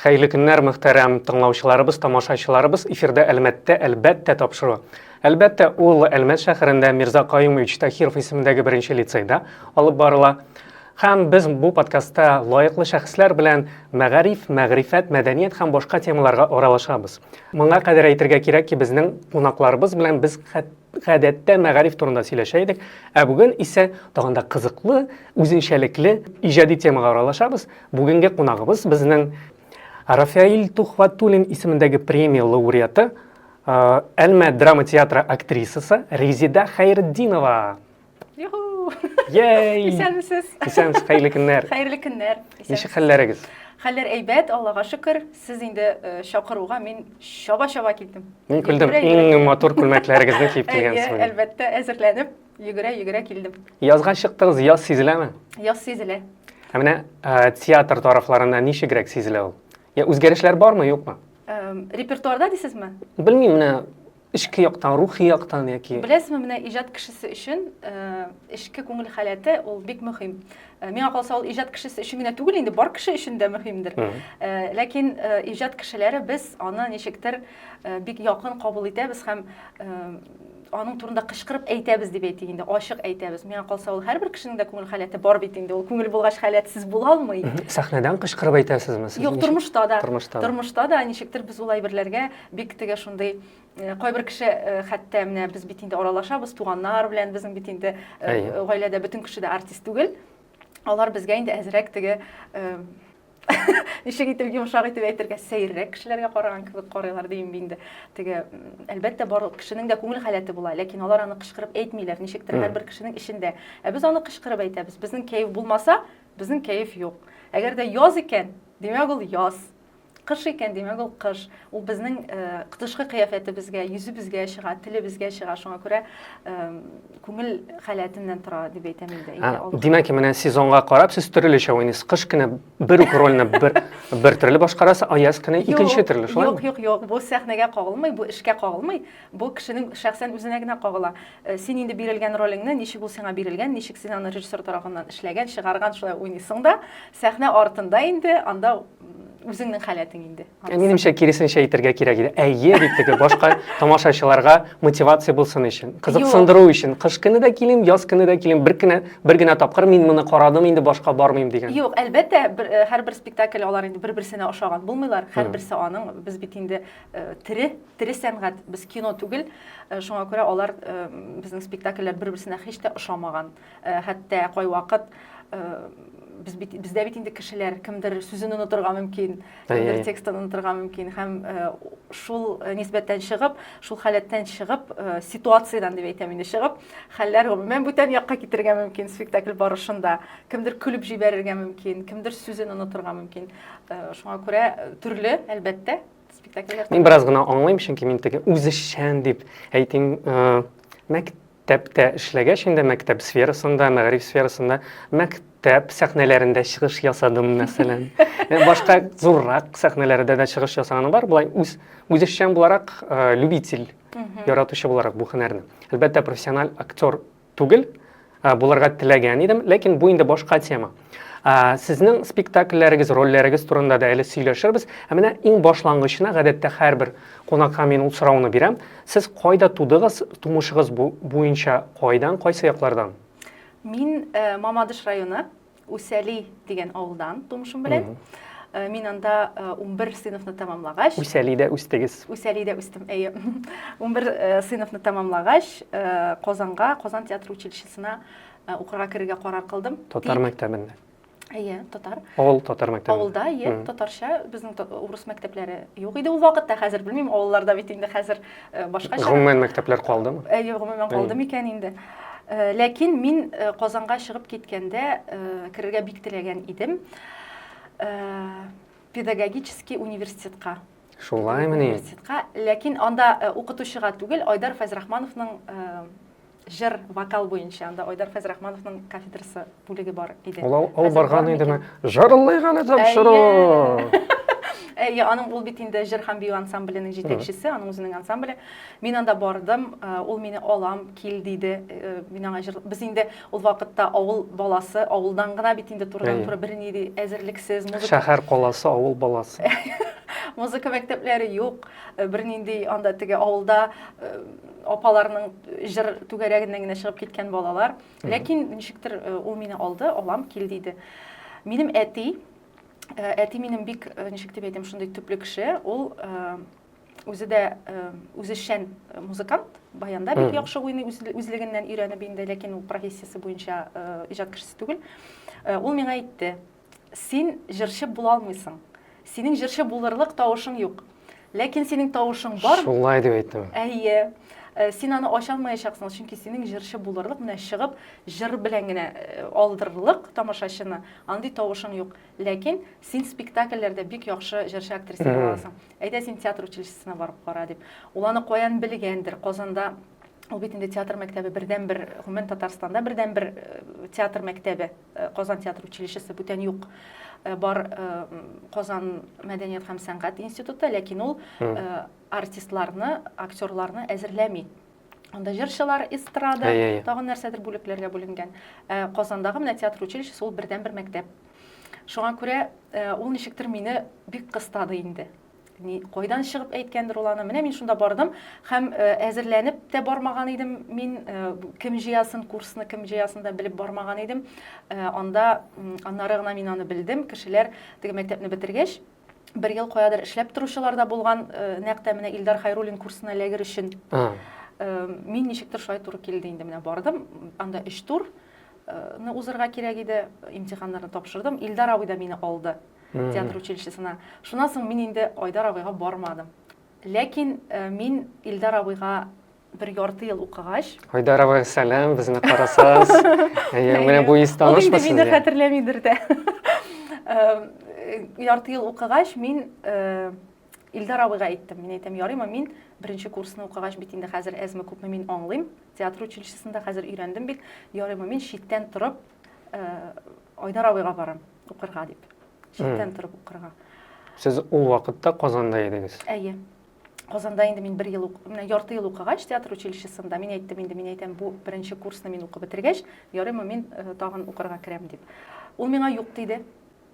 Хәерле көннәр, мөхтәрәм тыңлаучыларыбыз, тамашачыларыбыз. Эфирда Әлмәттә әлбәттә тапшыру. Әлбәттә, ул Әлмәт шәһәрендә Мирза Каюмович Тахиров исемендәге беренче лицейда алып барыла. Һәм без бу подкастта лаеклы шәхесләр белән мәгариф, мәгърифәт, мәдәният һәм башка темаларга аралашабыз. Моңа кадәр әйтергә кирәк ки, безнең кунакларыбыз белән без гадәттә мәгариф турында сөйләшә идек, ә бүген исә тагын да кызыклы, үзенчәлекле иҗади темага аралашабыз. Бүгенге кунагыбыз безнең Рафаил Тухватуллин исемендәге премия лауреаты, Әлмә драма театры актрисасы Резида Хәйретдинова. Юху! Йей! Исәнмесез! Исәнмесез, хәерле көннәр! Хәерле көннәр! Ничек хәлләрегез? Хәлләр әйбәт, Аллага шөкер. Сез инде чакыруга мин чаба-чаба килдем. Мин күрдем, иң матур күлмәкләрегезне киеп килгәнсез. Әлбәттә, әзерләнеп. Йөгерә-йөгерә килдем. Язга чыктыгыз, яз сизеләме? Яз сизелә. Ә менә ә, театр тарафларында ничегрәк сизелә ул? Я үзгәрешләр бармы, юкмы? Ә, репертуарда дисезме? Белмим, менә эчке яктан, рухи яктан яки Беләсезме, менә иҗат кешесе өчен э, эчке күңел халәте ул бик мөһим. Э, Миңа калса, ул иҗат кешесе өчен генә түгел инде, бар кеше өчен дә мөһимдер. Мгм. Э, Ләкин э, иҗат кешеләре без аны ничектер э, бик якын кабул итәбез һәм э, аның турында кычкырып әйтәбез дип әйтик инде ачык әйтәбез миңа калса ул һәрбер кешенең дә күңел халәте бар бит инде ул күңел булгач халәтсез була алмый сәхнәдән кычкырып әйтәсезме сез юк тормышта да тормышта тормышта да ничектер без ул әйберләргә бик теге шундый э, кайбер кеше э, хәтта менә без бит инде аралашабыз туганнар белән безнең бит инде э, гаиләдә бөтен кеше дә артист түгел алар безгә инде әзрәк теге ничек итеп йомшак итеп әйтергә сәеррәк кешеләргә караган кебек карыйлар дим инде теге әлбәттә барлык кешенең дә күңел халәте була ләкин алар аны кычкырып әйтмиләр ничектер һәрбер кешенең эчендә ә без аны кычкырып әйтәбез безнең кәеф булмаса безнең кәеф юк әгәр дә яз икән димәк ул яз кыш икән димәк ул кыш Ул безнең тышкы кыяфәтебезгә, йөзебезгә чыга, телебезгә чыга. Шуңа күрә күңел халәтеннән тора дип әйтәм инде. Димәк, менә сезонга карап сез төрлечә уйныйсыз. Кыш көне бер үк рольне бер бер төрле башкарасыз, а яз көне икенче төрле, шулай? Юк, юк, юк. Бу сәхнәгә кагылмый, бу эшкә кагылмый. Бу кешенең шәхсән үзенә генә кагыла. Син инде бирелгән ролеңне, ничек ул сиңа бирелгән, ничек син аны режиссер тарафыннан эшләгән, чыгарган, шулай уйныйсың да. Сәхнә артында инде анда үзеңнең халәтең инде. Минемчә, киресенчә әйтергә кирәк иде. Әйе, дип теге башка тамашачыларга мотивация булсын өчен, кызыксындыру өчен. Кыш көне дә килим, яз көне дә килим, бер кенә бер генә тапкыр мин моны карадым, инде башка бармыйм дигән. Юк, әлбәттә, э, һәрбер спектакль алар инде бер-берсенә ошаган булмыйлар. Һәрберсе аның, без бит инде э, тере, тере сәнгать, без кино түгел. Э, шуңа күрә алар безнең спектакльләр бер-берсенә һич тә ошамаган. Э, хәтта кайвакыт э, без бит бездә бит инде кешеләр кемдер сүзен онытырга мөмкин кемдер текстын онытырга мөмкин һәм э, шул нисбәттән чыгып шул халәттән чыгып ситуациядән дип әйтәм инде чыгып хәлләр гомумән бүтән якка китергә мөмкин спектакль барышында кемдер көлеп җибәрергә мөмкин кемдер сүзен онытырга мөмкин шуңа күрә төрле әлбәттә спектакльләр мин бераз гына аңлыйм чөнки мин теге үзешчән дип әйтим мәктәп Мәктәптә эшләгәч инде мәктәп сферасында, мәгариф сферасында, мәктәп сәхнәләрендә чыгыш ясадым, мәсәлән. Э, башка зуррак сәхнәләрдә дә чыгыш ясаганым бар. Болай үз үзешчән буларак, э, любитель, яратучы буларак бу һөнәрне. Әлбәттә, профессиональ актер түгел, э, буларга теләгән идем, ләкин бу инде башка тема. Сезнең спектакльләрегез, рольләрегез турында да әле сөйләшербез. Ә менә иң башлангычына гадәттә һәрбер кунакка мин ул сорауны бирәм. Сез кайда тудыгыз, тумышыгыз буенча кайдан, кайсы яклардан? Мин э, Мамадыш районы, Усәли дигән авылдан тумышым белән. Э, мин анда 11 э, сыйныфны тәмамлагач Үсәлидә үстегез. Үсәлидә үстем, әйе. 11 э, сыйныфны тәмамлагач, Казанга, Казан театр училищесына ә, укырга керергә карар кылдым. Татар мәктәбендә. Әйе, татар. Авыл татар мәктәбе. Авылда, әйе, татарча. Безнең урыс мәктәпләре юк иде ул вакытта, хәзер белмим, авылларда бит инде хәзер э, башкача. Гомумән мәктәпләр калдымы? Әйе, гомумән калды микән инде. Э, ләкин мин э, Казанга чыгып киткәндә керергә бик теләгән идем. Педагогический университетка. Шулаймыни? Университетка, ләкин анда укытучыга түгел, Айдар Фәзрахмановның Җыр, вокал буенча анда Айдар Фәйзрахмановның кафедрасы бүлеге бар иде. Ул ал- алып Хәзер барган бармы идеме? икән? Җырлый гына тапшыру! Әйе, аның ул бит инде җыр һәм бию ансамбленең җитәкчесе, аның үзенең ансамбле. Мин анда бардым, э, ул мине алам, кил диде. Э, Мин аңа җыр... Без инде ул вакытта авыл баласы, авылдан гына бит инде Әйе. турыдан-туры берни ди- әзерлексез, музыка Шәһәр каласы, авыл баласы. музыка мәктәпләре юк, э, бернинди анда теге авылда э, апаларның җыр түгәрәгеннән генә чыгып киткән балалар. Ләкин ничектер э, ул мине алды, алам кил диде. Минем әти, э, әти минем бик э, ничек дип әйтәм, шундый төпле кеше. Ул үзе дә үзешчән музыкант, баянда бик яхшы уйный, үзлегеннән өйрәнеп инде, ләкин ул профессиясе буенча иҗат кешесе түгел. Ул миңа әйтте, Син җырчы була алмыйсың. Синең җырчы булырлык тавышың юк. Ләкин синең тавышың бар. Шулай дип әйттем. Әйе. Э, син аны ача алмаячаксың, чөнки синең җырчы булырлык, менә чыгып җыр белән генә э, алдырырлык тамашачыны, андый тавышың юк. Ләкин син спектакльләрдә бик яхшы җырчы актриса буласың. Әйдә син театр училищесына барып кара дип. Ул аны каян белгәндер? Казанда ул бит инде театр мәктәбе бердән бер гомумән Татарстанда бердән бер э, театр мәктәбе Э, Казан театр училищесы бүтән юк. Э, бар э, Казан мәдәният һәм сәнгать институты, ләкин ул артистларны, актерларны әзерләми. Анда җырчылар, эстрада, тагын нәрсәдер бүлекләргә бүленгән. Казандагы менә театр училищесы ул бердән-бер мәктәп. Шуңа күрә ул ничектер мине бик кыстады инде. Ни, кайдан чыгып әйткәндер ул аны. Менә мин шунда бардым һәм э, әзерләнеп тә бармаган идем. Мин э, кем җыясын, курсны кем җыясын да белеп бармаган идем. Э, анда аннары гына мин аны белдем. Кешеләр теге мәктәпне бетергәч, бер ел каядыр эшләп торучылар да булган, нәкъ тә менә Илдар Хайруллин курсына эләгер өчен. Мин ничектер шулай туры килде инде менә бардым. Анда өч тур узырга кирәк иде. Имтиханнарны тапшырдым. Илдар абый да мине алды. театр училищесына. Шуннан соң мин инде Айдар абыйга бармадым. Ләкин э, мин Илдар абыйга бер ярты ел укыгач Айдар абый сәлам безне карасагыз әйе менә бу ис танышмы сезгә мине хәтерләмидер дә э, ярты ел укыгач мин э, Илдар абыйга әйттем. Мин әйтәм, ярыймы мин беренче курсны укыгач бит инде хәзер әзме күпме мин аңлыйм. Театр училищесында хәзер өйрәндем бит. Ярыймы мин читтән торып э, Айдар абыйга барам. укырга дип шиктән торып укырга сез ул вакытта казанда идегез әйе казанда инде мин бер ел менә ярты ел укыгач театр училищесында мин әйттем инде мин әйтәм бу беренче курсны мин укып бетергәч ярыймы мин э, тагын укырга керәм дип ул миңа юк диде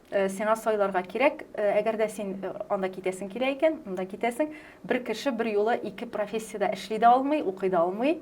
э, сиңа сайларга кирәк э, әгәр дә син анда китәсең килә икән монда китәсең бер кеше бер юлы ике профессиядә эшли дә алмый укый да алмый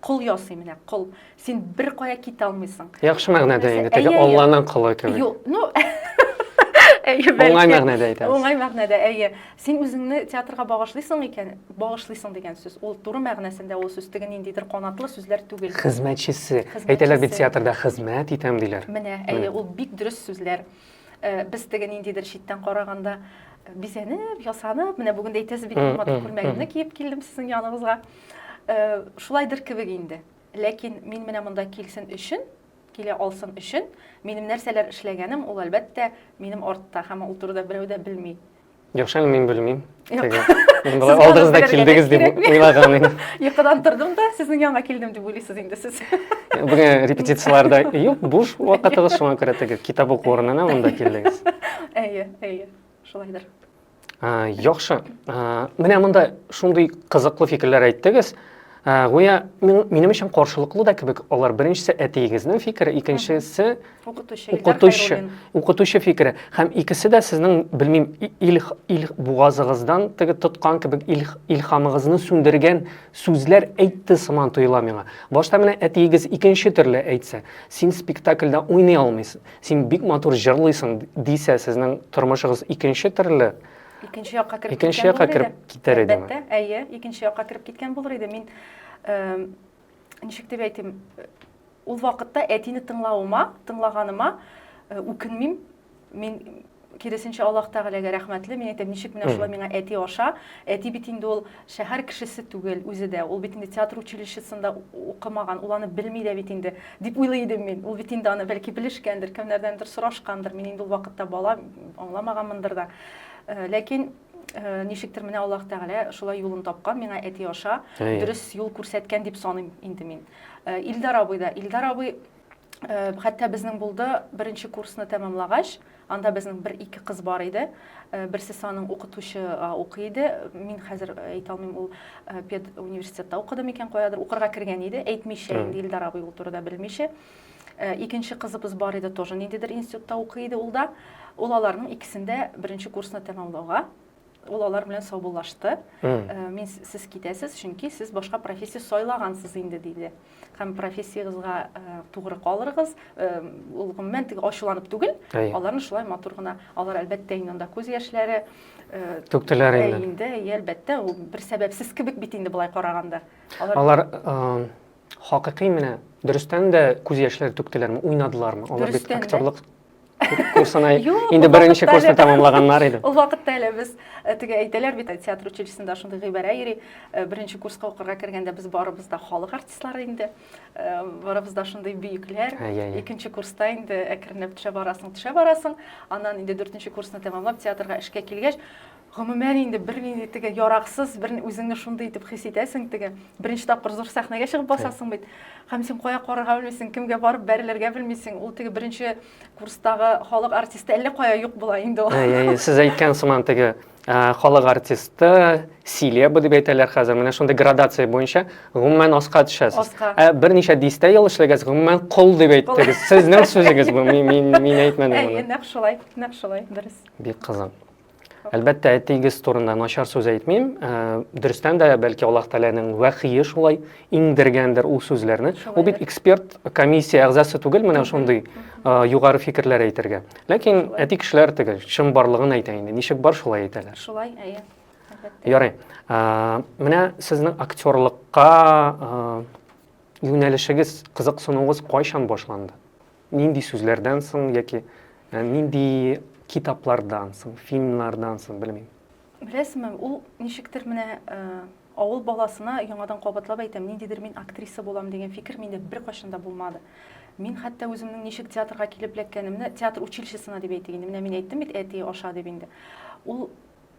Кол ясый менә, кол. Син бер кая китә алмыйсың. Яхшы мәгънәдә инде, теге Алланың колы кебек. Юк, ну Әйе, бәлки. Уңай мәгънәдә әйтәбез. Уңай мәгънәдә, әйе. Син үзеңне театрга багышлыйсың икән, багышлыйсың дигән сүз. Ул туры мәгънәсендә ул сүз теге ниндидер канатлы сүзләр түгел. Хезмәтчесе. Әйтәләр бит театрда хезмәт итәм диләр. Менә, әйе, ул бик дөрес сүзләр. Без теге ниндидер читтән караганда бизәнеп, ясанып, менә бүген дә әйтәсез бит, матур күлмәгемне киеп килдем сезнең яныңызга. Шулайдыр кебек инде. Ләкин мин менә монда килсен өчен, килә алсын өчен, минем нәрсәләр эшләгәнем, ул әлбәттә минем артта, һәм ул турыда берәү дә белми. Юк, шәл мин белмим. Мин болай алдыгыз да килдегез дип уйлаган идем. Йокыдан тордым да, сезнең янга килдем дип уйлыйсыз инде сез. Бүген репетицияләрдә юк, буш вакытыгыз шуңа күрә теге китап уку урынына монда килдегез. Әйе, әйе, шулайдыр. Яхшы. Менә монда шундый кызыклы фикерләр әйттегез. Ә, гүя минем өчен каршылыклы да кебек алар. Беренчесе әтиегезнең фикере, икенчесе укытучы, укытучы, укытучы фикере. Һәм икесе дә сезнең, белмим, ил, ил бугазыгыздан теге тоткан кебек ил, илхамыгызны сүндергән сүзләр әйтте сыман тоела миңа. Башта менә әтиегез икенче төрле әйтсә, син спектакльдә уйный алмыйсың, син бик матур җырлыйсың дисә, сезнең тормышыгыз икенче төрле икенче якка кереп икенче якка кереп китәр иде әлбәттә әйе икенче якка кереп киткән булыр иде мин ничек дип әйтим ул вакытта әтине тыңлавыма тыңлаганыма үкенмим мин киресенчә аллаһ тәгаләгә рәхмәтле мин әйтәм ничек менә шулай миңа әти аша әти бит инде ул Шәһәр кешесе түгел үзе дә, ул бит инде театр училищесында укымаган, ул аны белми дә бит инде, дип уйлый идем мин. Ул бит инде аны, бәлки, белешкәндер, кемнәрдәндер сорашкандыр, мин инде ул вакытта бала, аңламаганмындыр да. Ләкин ничектер менә Аллаһ Тәгалә шулай юлын тапкан, миңа әти аша дөрес юл күрсәткән дип саныйм инде мин. Илдар абый да, Илдар абый Э, хәтта безнең булды беренче курсны тәмамлагач анда безнең бер ике кыз бар иде э, берсе саның укытучы укый иде мин хәзер э, әйтә алмыйм ул пед университетта укыды микән каядыр укырга кергән иде әйтмичә инде илдар абый ул турыда белмичә икенче кызыбыз бар иде тоже ниндидер институтта укый иде ул да ул аларның икесендә беренче курсны тәмамлауга Ул алар белән саубуллашты. Э, мин сез китәсез, чөнки сез башка профессия сайлагансыз инде, диде. Һәм профессиягызга э, тугры калырыгыз. Э, ул гомумән теге ачуланып түгел, аларны шулай матур гына. Алар әлбәттә инде анда күз яшьләре түктеләр инде. Инде, әлбәттә, ул бер сәбәпсез кебек бит инде болай караганда. Алар, алар хакыйкый менә дөрестән дә күз яшьләре түктеләрме, уйнадылармы? Алар бит актерлык курсына инде беренче курсны тәмамлаганнар иде ул вакытта әле без э, теге әйтәләр бит театр училищесында шундый гыйбарә йөри э, беренче курска укырга кергәндә без барыбыз да халык артистлары инде э, барыбыз да шундый бөекләр икенче курста инде әкренләп төшә барасың төшә барасың аннан инде дүртенче курсны тәмамлап театрга эшкә килгәч Гомумән инде бернинди теге яраксыз, бер үзеңне шундый итеп хис итәсең теге. Беренче тапкыр зур сәхнәгә чыгып басасың бит. Һәм син кая карарга белмисең, кемгә барып бәрелергә белмисең. Ул теге беренче курстагы халык артисты әллә кая юк була инде ул. Әй, әй, сез әйткән сыман теге халык артисты, селеба дип әйтәләр хәзер. Менә шундый градация буенча гомумән аска төшәсез. Аска. Ә берничә дистә ел эшләгәс, гомумән кол дип әйттегез. Сезнең сүзегез бу, мин мин әйтмәдем моны. Әй, нәкъ шулай, нәкъ шулай, дөрес. Бик кызык. Әлбәттә, әтиегез турында начар сүз әйтмим. Э, дөрестән дә, бәлки Аллаһ Тәгаләнең вәхие шулай иңдергәндер ул сүзләрне. Ул бит эксперт комиссия әгъзасы түгел, менә шундый э, югары фикерләр әйтергә. Ләкин әти кешеләр теге чын барлыгын әйтә инде. Ничек бар, шулай әйтәләр. Шулай, әйе. Ярый. Э, менә сезнең актерлыкка юнәлешегез, кызыксынуыгыз кайчан башланды? Нинди сүзләрдән соң яки нинди китаплардан соң, фильмнардан соң, белмим. Беләсеңме, ул ничектер менә авыл баласына яңадан кабатлап әйтәм, ниндидер мин актриса булам дигән фикер миндә беркайчан да булмады. Мин хәтта үземнең ничек театрга килеп эләккәнемне, театр училищесына дип әйтик инде, менә мин әйттем бит әти аша дип инде. Ул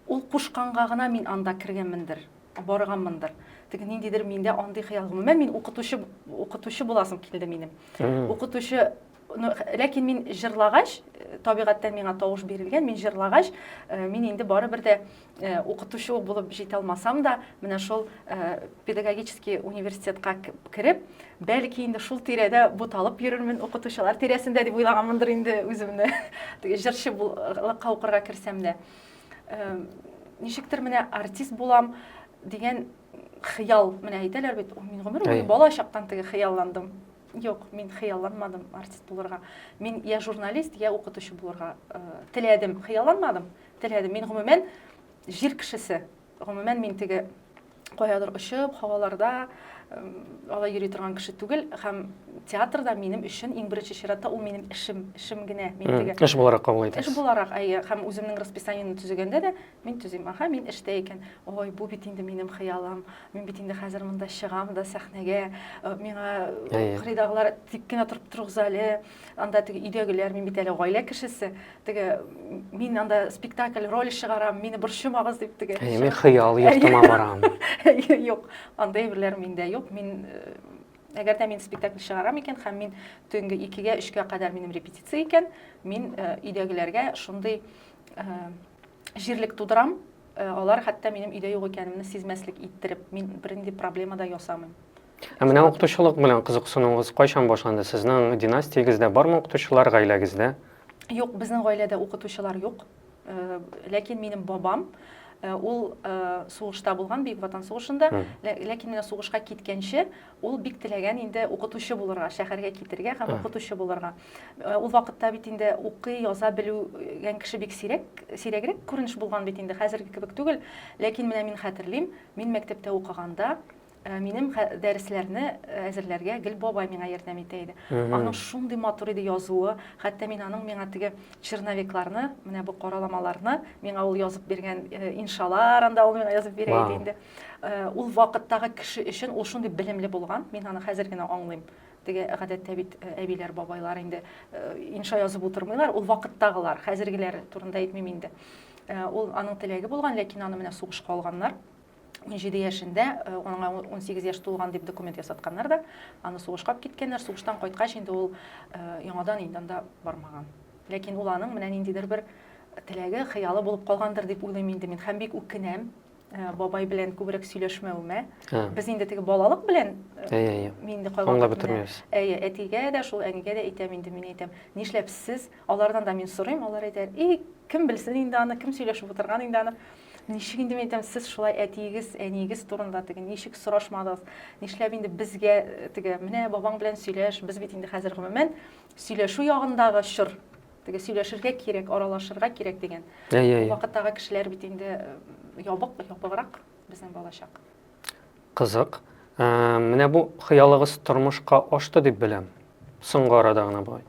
Ул кушканга гына мин анда кергәнмендер, барганмындыр. Теге ниндидер миндә андый хыял. Гомумән, мин укытучы, укытучы буласым килде минем. Укытучы ну, ләкин мин җырлагач, э, табигатьтән миңа тавыш бирелгән, мин җырлагач, э, мин инде барыбер дә э, укытучы ук булып җитә алмасам да, менә шул педагогический университетка кереп, бәлки инде шул тирәдә буталып йөрермен укытучылар тирәсендә дип уйлаганмындыр инде үземне. Теге җырчы булыкка укырга керсәм дә. ничектер менә артист булам дигән хыял менә әйтәләр бит мин гомер буе бала чактан теге хыялландым юк мин хыялланмадым артист булырга мин я журналист я укытучы булырга э, теләдем хыялланмадым теләдем мин гомумән җир кешесе Гомумән, мин теге каядыр очып, һаваларда алай йөри торган кеше түгел һәм театр да минем өчен иң беренче чиратта ул минем эшем, эшем генә. Мин теге эш буларак кабул итәсез. Эш буларак, әйе, һәм үземнең расписаниене төзегәндә дә мин төзим. Аха, мин эштә икән. Ой, бу бит инде минем хыялым. Мин бит инде хәзер монда чыгам да сәхнәгә. Э, миңа кырыйдагылар тик кенә торып торыгыз әле. анда теге өйдәгеләр мин бит әле гаилә кешесе теге мин анда спектакль роль чыгарам мине борчымагыз дип теге әйе мин хыял йортыма барам юк андый әйберләр миндә юк мин э, әгәр дә мин спектакль чыгарам икән һәм мин төнге икегә өчкә кадәр минем репетиция икән мин э, өйдәгеләргә шундый э, җирлек тудырам, э, алар хәтта минем өйдә юк икәнемне сизмәслек иттереп, мин бернинди проблема да ясамыйм. Ә менә укытучылык белән кызыксынуыгыз кайчан башланды? Сезнең династиягездә бармы укытучылар гаиләгездә? Юк, безнең гаиләдә укытучылар юк. Э, ләкин минем бабам Э, ул э, сугышта булган бөек ватан сугышында ләкин менә сугышка киткәнче Ул бик теләгән инде укытучы булырга, шәһәргә китергә һәм укытучы булырга. Э, ул вакытта бит инде укый, яза белүгән кеше бик сирәк, сирәгрәк күренеш булган бит инде, хәзерге кебек түгел. Ләкин менә мин хәтерлим, мин мәктәптә укыганда э, минем дәресләрне э, әзерләргә гел бабай миңа ярдәм итә иде. Аның шундый матур иде язуы, хәтта мин аның миңа теге черновикларны, менә бу караламаларны миңа ул язып биргән иншалар анда ул миңа язып бирә иде инде. Ул вакыттагы кеше өчен ул шундый белемле булган, мин аны хәзер генә аңлыйм. Теге гадәттә бит әбиләр, бабайлар инде инша язып утырмыйлар, ул вакыттагылар, хәзергеләр турында әйтмим инде. Ул аның теләге булган, ләкин аны менә сугышка алганнар. 17 яшендә аңа 18 яшь тулган дип документ ясатканнар да, аны сугышка алып киткәннәр. Сугыштан кайткач инде ул яңадан инде анда бармаган. Ләкин ул аның менә ниндидер бер теләге, хыялы булып калгандыр дип уйлыйм инде мин һәм бик үкенәм. Э, бабай белән күбрәк сөйләшмәвемә без инде теге балалык белән э, мин инде кайвакыт бетермибез әйе әтигә дә шул әнигә дә әйтәм инде мин әйтәм нишләп сез алардан да мин сорыйм алар әйтә и кем белсен инде аны кем сөйләшеп утырган инде аны ничек инде мин әйтәм сез шулай әтиегез әниегез турында теге ничек сорашмадыгыз нишләп инде безгә э, теге менә бабаң белән сөйләш без бит инде хәзер гомумән сөйләшү ягындагы чор Теге сөйләшергә кирәк, аралашырга кирәк дигән. Әйе, әйе. Вакыттагы кешеләр бит инде ябык, ябыграк безнең балачак. Кызык. Менә бу хыялыгыз тормышка ашты дип беләм. Соңгы арада гына бай.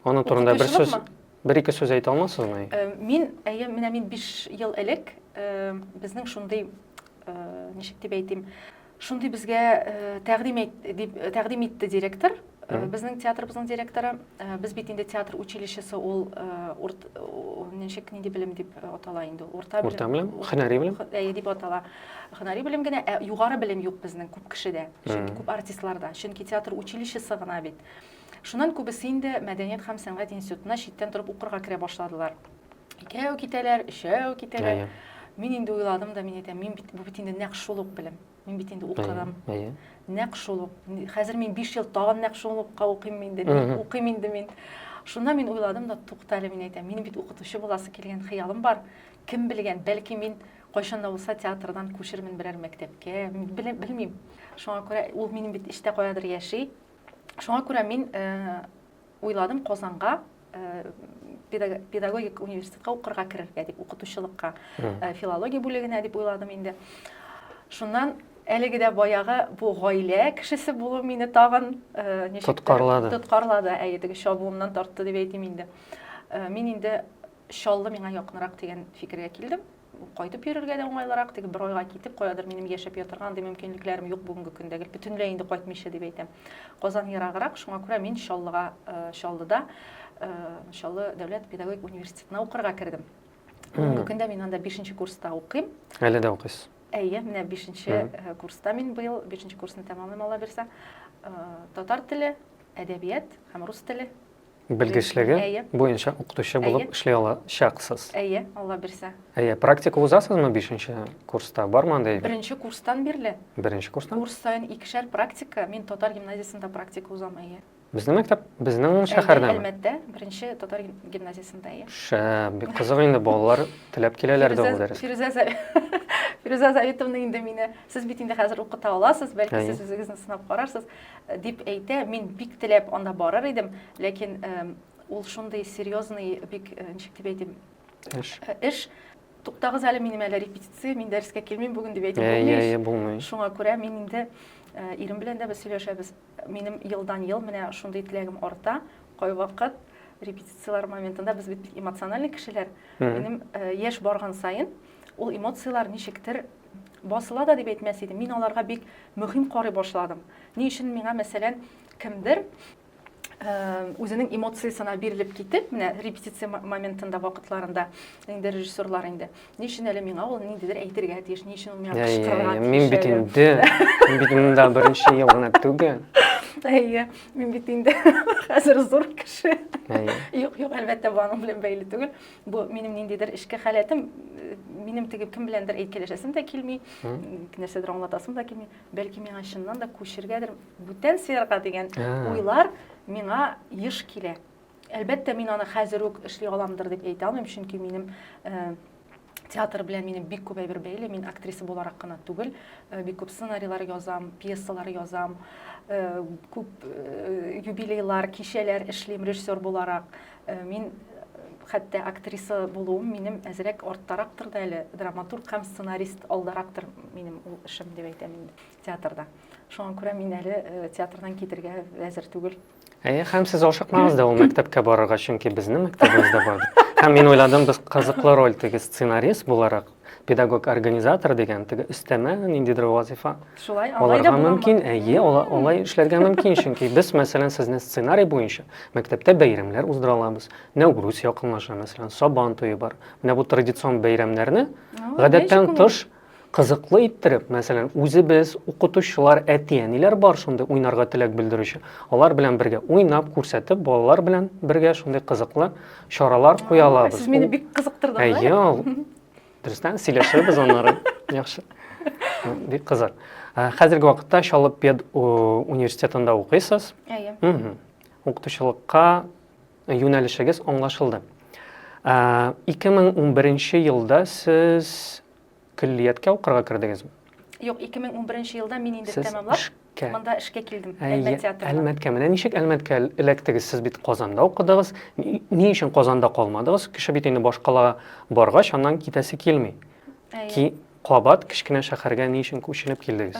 Аның турында бер сүз, бер ике сүз әйтә алмасызмы? Мин, әйе, менә мин 5 ел элек безнең шундый, ничек дип әйтим, Шундый безгә тәкъдим дип тәкъдим итте директор. Безнең театрыбызның директоры, без бит инде театр училищесы ул ничек нинди белем дип атала инде ул? Урта белем. Урта белем, һөнәри белем. Әйе дип атала. Һөнәри белем генә, ә югары белем юк безнең күп кешедә, чөнки күп артистларда. Чөнки театр училищесы гына бит. Шуннан күбесе инде мәдәният һәм сәнгать институтына читтән торып укырга керә башладылар. икәү китәләр, өчәү китәләр. Мин инде уйладым да, мин әйтәм, мин бит бу бит инде нәкъ шул ук белем. Мин бит инде укыдым. Нәкъ шул ук. Хәзер мин 5 ел тагын нәкъ шул укка укыйм инде, укыйм инде мин. Шунда мин уйладым да, туктале, мин әйтәм, мин бит укытучы буласы килгән хыялым бар. Кем белгән, бәлки мин кайчан да булса театрдан күчермен берәр мәктәпкә, белмим. Шуңа күрә ул минем бит эчтә каядыр яши. Шуңа күрә мин э, уйладым Казанга педагогик университетка укырга керергә дип, укытучылыкка, филология бүлегенә дип уйладым инде. Шуннан әлеге дә баягы бу гаилә кешесе булу мине тагын ничек тоткарлады. Тоткарлады, әйе, теге чабуымнан тартты дип әйтим инде. Мин инде Чаллы миңа якынрак дигән фикергә килдем. Кайтып йөрергә дә уңайлырак, теге бер айга китеп, каядыр минем яшәп ятырга андый мөмкинлекләрем юк бүгенге көндә, гел бөтенләй инде кайтмыйча дип әйтәм. Казан ераграк, шуңа күрә мин Чаллыга, э, Чаллыда, э, Чаллы дәүләт педагогик университетына укырга кердем. Бүгенге көндә мин анда бишенче курста укыйм. Әле дә укыйсыз? Әйе, менә бишенче э, курста мин быел, бишенче курсны тәмамлыйм, Алла бирсә. Э, татар теле, әдәбият һәм рус теле белгечлеге Әйе. буенча укытучы булып Әйе. эшли алачаксыз. Әйе, Алла бирсә. Әйе, практика узасызмы 5нче курста? Бармы андый? Беренче курстан бирле. Беренче курстан? Курс саен икешәр практика. Мин татар гимназиясендә практика узам, әйе. Безнең мәктәп, безнең шәһәрдә. Әлмәттә, беренче татар гимназиясендә, әйе. Шә, бик кызык инде балалар теләп киләләр дә ул дәрес. Фирүзә Фирүзә Заитовна инде мине, сез бит инде хәзер укыта аласыз, бәлки сез үзегезне сынап карарсыз. Дип әйтә, мин бик теләп анда барыр идем, ләкин ул шундый серьезный, бик ничек дип әйтим, эш. Эш туктагыз әле минем әле репетиция, мин дәрескә килмим бүген дип әйтеп ә, булмый. Шуңа күрә мин инде э, ирем белән дә без сөйләшәбез. Минем елдан ел менә шундый теләгем арта. Кайвакыт репетицияләр моментында без бит эмоциональный кешеләр. Минем э, яшь барган саен Ул эмоцияләр ничектер басыла да дип әйтмәс идем. Мин аларга бик мөһим карый башладым. Ни өчен миңа, мәсәлән, кемдер үзенең эмоциясенә бирелеп китеп, менә репетиция моментында вакытларында инде режиссерлар инде. Ни өчен әле миңа ул ниндидер әйтергә тиеш, ни өчен ул миңа кычкырырга тиеш. Мин бит инде, мин бит монда беренче ел гына түгел. Әйе, мин бит инде хәзер зур кеше. Юк, юк, әлбәттә, бу аның белән бәйле түгел. Бу минем ниндидер эшке халәтем, минем теге кем беләндер әйткәләшәсем дә килми, нәрсәдер аңлатасым да килми. Бәлки миңа чыннан да күчергәдер бүтән сферага дигән уйлар миңа еш килә. Әлбәттә, мин аны хәзер үк эшли аламдыр дип әйтә алмыйм, чөнки минем э, театр белән минем бик күп әйбер бәйле. Мин актриса буларак кына түгел, э, бик күп сценарийлар язам, пьесалар язам, э, күп юбилейлар, кичәләр эшлим режиссер буларак. Э, мин э, хәтта актриса булуым минем әзрәк арттарактыр да әле драматург һәм сценарист алдарактыр минем ул эшем дип әйтәм инде театрда шуңа күрә мин әле э, театрдан китергә әзер түгел Әйе, һәм сез ашыкмагыз да ул мәктәпкә барырга, чөнки безнең мәктәбебездә бар. Һәм мин уйладым, без кызыклы роль теге сценарист буларак педагог организатор дигән теге өстәмә ниндидер вазифа шулай алай да мөмкин әйе алай эшләргә мөмкин чөнки без мәсәлән сезнең сценарий буенча мәктәптә бәйрәмнәр уздыра алабыз нәүрүз якынлаша мәсәлән сабан туе бар менә бу традицион бәйрәмнәрне гадәттән тыш кызыклы иттереп мәсәлән үзебез укытучылар әти әниләр бар шундый уйнарга теләк белдерүче алар белән бергә уйнап күрсәтеп балалар белән бергә шундый кызыклы чаралар куя алабыз. Сез мине бик кызыктырдыгыз. Әйе, ул дөрестән сөйләшәбез аннары. Яхшы. Бик кызык. Хәзерге вакытта Чаллы пед университетында укыйсыз. Әйе. Укытучылыкка юнәлешегез аңлашылды. 2011 елда сез Көллияткә укырга кердегезме? Юк, 2011 елда мин инде тәмамлап, эшкә. монда эшкә килдем, Әлмәт театрына. Әлмәткә. Менә ничек Әлмәткә эләктегез? Сез бит Казанда укыдыгыз. Ни өчен Казанда калмадыгыз? Кеше бит инде баш калага баргач, аннан китәсе килми. Ки, кабат кечкенә шәһәргә ни өчен күченеп килдегез?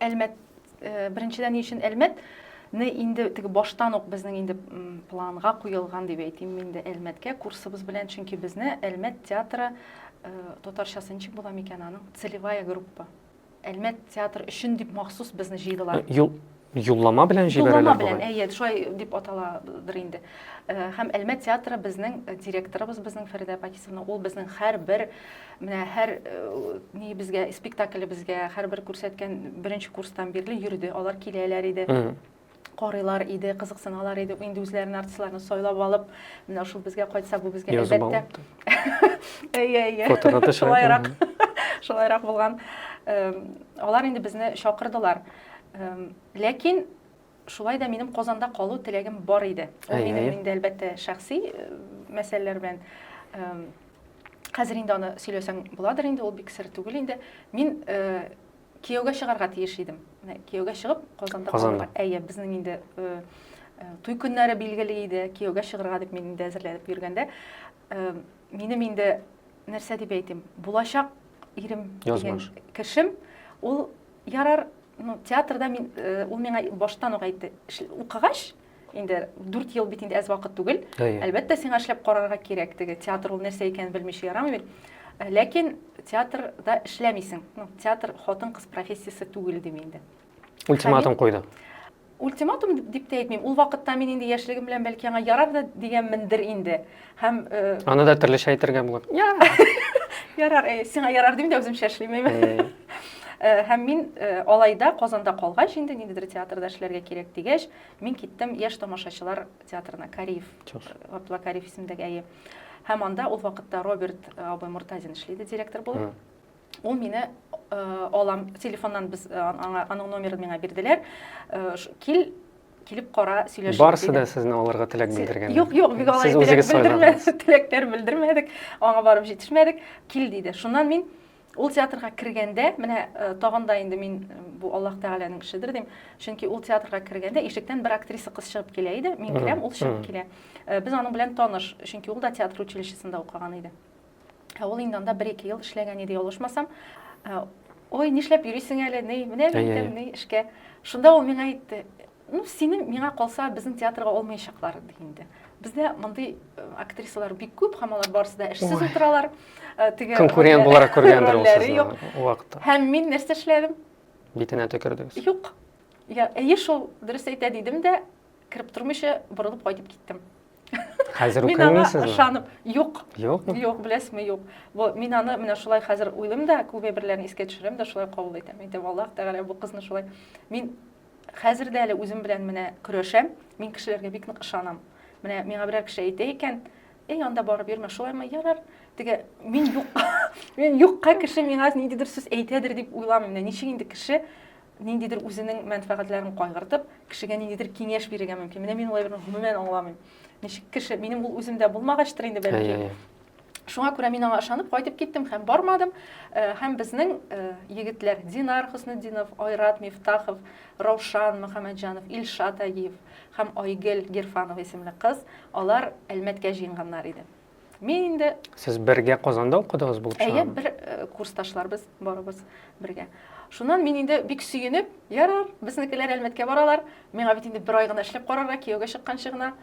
Әлмәт Э, беренчедән ни өчен әлмәт не инде теге баштан ук безнең инде планга куелган дип әйтим мин дә әлмәткә курсыбыз белән чөнки безне әлмәт театры э, татарчасы ничек була микән аның целевая группа әлмәт театры өчен дип махсус безне җыйдылар э, юллама белән җибәрәләр юллама белән әйе шулай дип аталадыр инде һәм әлмәт театры безнең директорыбыз безнең фәридә пакисовна ул безнең һәрбер Менә һәр ни безгә, спектакль безгә, һәрбер күрсәткән беренче курстан бирле йөрде. Алар киләләр иде. Карыйлар иде, кызыксыналар иде. Инде үзләренә артистларны сайлап алып, менә шул безгә кайтса, бу безгә әлбәттә. Әйе, әйе. Фотография шулайрак. Шулайрак булган. Алар инде безне чакырдылар. Ләкин Шулай да минем Казанда калу теләгем бар иде. Ул минем инде, әлбәттә, шәхси мәсьәләләр белән хәзер инде аны сөйләсәң буладыр инде, ул бик сер түгел инде. Мин кияүгә чыгарга тиеш идем. Кияүгә чыгып, Казанда калырга. Әйе, безнең инде туй көннәре билгеле иде, кияүгә чыгарга дип мин инде әзерләнеп йөргәндә, минем инде нәрсә дип әйтим, булачак ирем дигән кешем, ул Ярар, ну, театрда мин, э, ул миңа баштан ук әйтте, укыгач, инде дүрт ел бит инде әз вакыт түгел, әлбәттә, сиңа эшләп карарга кирәк, теге театр ул нәрсә икәнен белмичә ярамый бит. Э, ләкин театрда эшләмисең, ну, театр хатын-кыз профессиясе түгел, дим инде. Ультиматум куйды. Ультиматум дип тә әйтмим. Ул вакытта мин инде яшьлегем белән бәлки аңа ярар да дигәнмендер инде. Һәм э, Аны да төрлечә әйтергә була. Ярар, э, сиңа ярар дим дә үземчә эшлим әйме. Э, һәм мин э, алайда Казанда калгач инде ниндидер театрда эшләргә кирәк дигәч, мин киттем Яшь тамашачылар театрына, Кариев, Габдулла Кариев исемендәге әйе. Һәм анда ул вакытта Роберт абый Муртазин эшли иде директор булып. Ул мине алам, телефоннан без аңа аның номерын миңа бирделәр. Кил, килеп кара, сөйләшик. Барсы да сезне алырга теләк белдергән. Юк, юк, бик алай теләк белдермәдек, теләкләр белдермәдек. Аңа барып җитешмәдек. Кил диде. Шуннан мин ул театрга кергәндә, менә тагын да инде мин бу Аллаһ Тәгаләнең эшедер дим. Чөнки ул театрга кергәндә ишектән бер актриса кыз чыгып килә иде. Мин керәм, ул чыгып килә. Без аның белән таныш, чөнки ул да театр училищесында укыган иде. Ә ул инде анда бер-ике ел эшләгән иде, ялгышмасам. Ә, Ой, нишләп йөрисең әле, ни, менә әйтәм, ни эшкә. Шунда ул миңа әйтте, ну, синең миңа калса, безнең театрга алмаячаклар, ди инде. Бездә мондый э, актрисалар бик күп, һәм алар барысы да эшсез утыралар. Э, теге конкурент буларак күргәндер ул сезне вакытта. Һәм мин нәрсә эшләдем? Битенә төкердегез. Юк. Я, әйе шул, дөрес әйтә дидем дә, кереп тормыйча борылып кайтып киттем. Хәзер Мин укый аңа алмыйсызмы? ышанып, юк, Юкмы? юк, беләсезме, юк. Бу, мин аны менә шулай хәзер уйлыйм да, күпме берләрен искә төшерәм дә, шулай кабул итәм. Әйтәм, Аллаһ Тәгалә бу кызны шулай. Мин хәзер дә әле үзем белән менә көрәшәм, мин кешеләргә бик нык ышанам. Менә миңа берәр кеше әйтә икән, эй, анда барып йөрмә, шулаймы, ярар, теге, мин юк, мин юкка кеше миңа ниндидер сүз әйтәдер дип уйламыйм. Менә ничек инде кеше ниндидер үзенең мәнфәгатьләрен кайгыртып, кешегә ниндидер киңәш бирергә мөмкин. Менә мин уларны гомумән аңламыйм. Ничек кеше, минем ул үземдә булмагач инде бәлки. Шуңа күрә мин аңа ышанып кайтып киттем һәм бармадым. Э, һәм безнең э, егетләр Динар Хөснетдинов, Айрат Мифтахов, Раушан Мөхәммәтҗанов, Илшат Агиев һәм Айгел Герфанова исемле кыз, алар Әлмәткә җыенганнар иде. Мин инде... Сез бергә Казанда укыдыгыз булып чыга? Әйе, бер э, курсташларбыз, барыбыз бергә. Шуннан мин инде бик сөенеп, ярар, безнекеләр Әлмәткә баралар. Миңа бит инде бер ай гына эшләп карарга, кияүгә чыкканчы гына.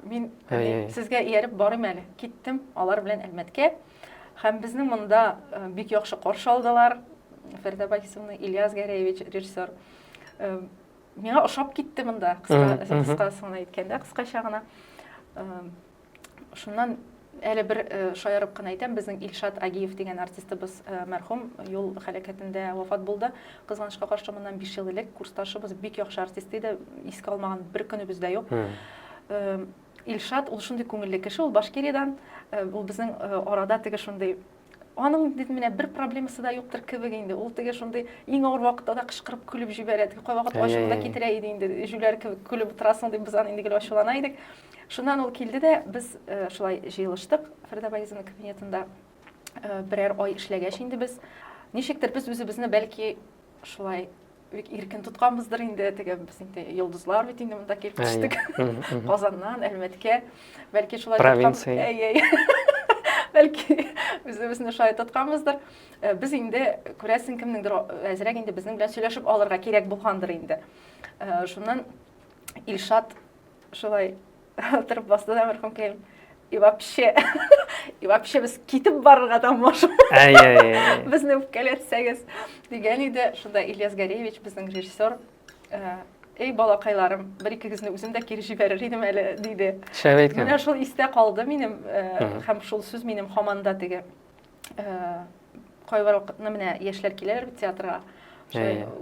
Мин э, сезгә ияреп барыйм әле. Киттем алар белән Әлмәткә. Һәм безне монда э, бик яхшы каршы алдылар. Фәрдә Байсовна, Ильяс Гәрәевич, режиссер. Миңа ошап китте монда, кыска, кыскасын әйткәндә, кыскача гына. Шуннан әле бер э, шаярып кына әйтәм, безнең Илшат Агиев дигән артистыбыз э, мәрхүм юл хәләкәтендә вафат булды. Кызганычка каршы моннан 5 ел элек курсташыбыз бик яхшы артист иде, искә алмаган бер көнебез дә юк. Э, Илшат ул шундый күңелле кеше, ул Башкириядән, ул безнең арада теге шундый Аның дидем менә бер проблемасы да юктыр кебек инде. Ул теге шундый иң авыр вакытта да кычкырып көлеп җибәрә. Теге кайвакыт ачуын да китерә иде инде. Җүләр кебек көлеп утырасың дип без аны инде гел ачулана идек. Шуннан ул килде дә без э, шулай җыелыштык Фәрдә Багизовна кабинетында. Э, берәр ай эшләгәч инде без ничектер без үзебезне бәлки шулай бик иркен тотканбыздыр инде теге без инде йолдызлар бит инде монда килеп төштек казаннан әлмәткә бәлки шулай провинция бәлки үзебезне шулай тотканбыздыр э, без инде күрәсең кемнеңдер әзрәк инде безнең белән сөйләшеп алырга кирәк булгандыр инде э, шуннан илшат шулай Торып басты да мәрхүм кем? И вообще, и вообще без китеп барырга да можем. Безне үпкәләтсәгез дигән иде. Шунда Ильяс Горевич, безнең режиссер, эй балакайларым бер икегезне үзем дә кире җибәрер идем әле диде шәп әйткән менә шул истә калды минем һәм шул сүз минем һаман да теге кайбер вакытны менә яшьләр киләләр бит театрга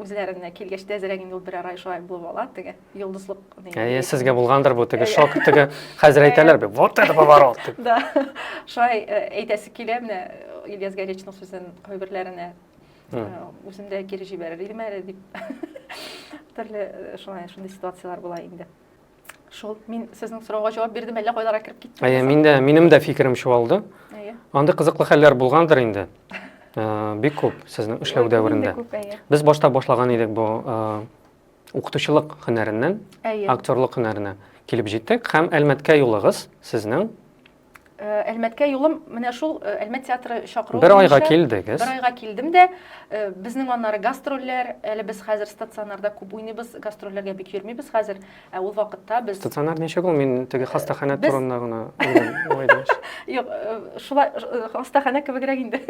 үзләренә килгәч тәзрәк инде ул берәр ай шулай булып ала теге йолдызлык әйе сезгә булгандыр бу теге шок теге хәзер әйтәләр бит вот это поворот дип да шулай әйтәсе килә менә ильяс горечный сүзен кайберләренә үзем дә кире җибәрер идем әле дип төрле шулай шундый ситуацияләр була инде Шул, мин сезнең сорауга җавап бирдем, әллә кайларга кереп киттем. Әйе, мин дә, минем дә фикерем чуалды. Әйе. Андый кызыклы хәлләр булгандыр инде. Э, бик күп сезнең эшләү дәверендә. Без башта башлаган идек бу э, укытучылык һөнәреннән, актерлык һөнәренә килеп җиттек һәм Әлмәткә юлыгыз сезнең Э, әлмәткә юлым менә шул э, әлмәт театры чакыруы бер айга килдегез бер айга килдем дә э, безнең аннары гастрольләр әле без хәзер стационарда күп уйныйбыз гастрольләргә бик йөрмибез хәзер ә ул вакытта без стационар ничек ул мин теге хастаханә турында гына юк шулай хастаханә кебегрәк инде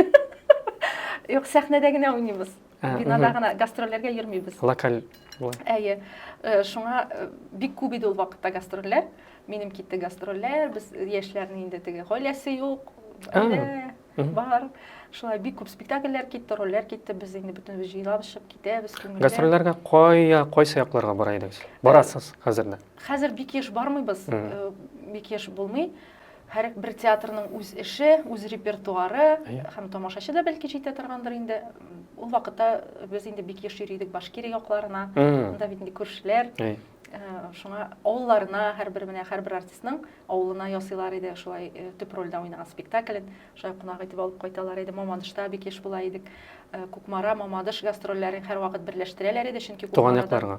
юк сәхнәдә генә уйныйбыз Ә, Бинада мгм. гына гастрольләргә йөрмибез. Локаль була. Әйе. Э, Шуңа э, бик күп иде ул вакытта гастрольләр. Минем китте гастрольләр, без яшьләрнең инде теге гаиләсе юк, А, гаилә мгм. бар. Шулай бик күп спектакльләр китте, рольләр китте. Без инде бөтенебез җыелабызчып китәбез күңелле. Гастрольләргә кая, кайсы якларга бара идегез? Барасыз хәзер дә. Хәзер бик еш бармыйбыз, Мгм. э, бик еш булмый. Һәр бер театрның үз эше, үз репертуары, һәм тамашачы да бәлки җитә торгандыр инде. Ул вакытта без инде бик еш йөри идек Башкирия якларына, анда бит инде күршеләр. Шуңа авылларына һәрбер менә һәрбер артистның авылына ясыйлар иде, шулай төп рольдә уйнаган спектаклен, шулай кунак итеп алып кайталар иде. Мамадышта бик еш була идек. Кукмара, Мамадыш гастрольләрен һәрвакыт берләштерәләр иде, чөнки Туган якларга.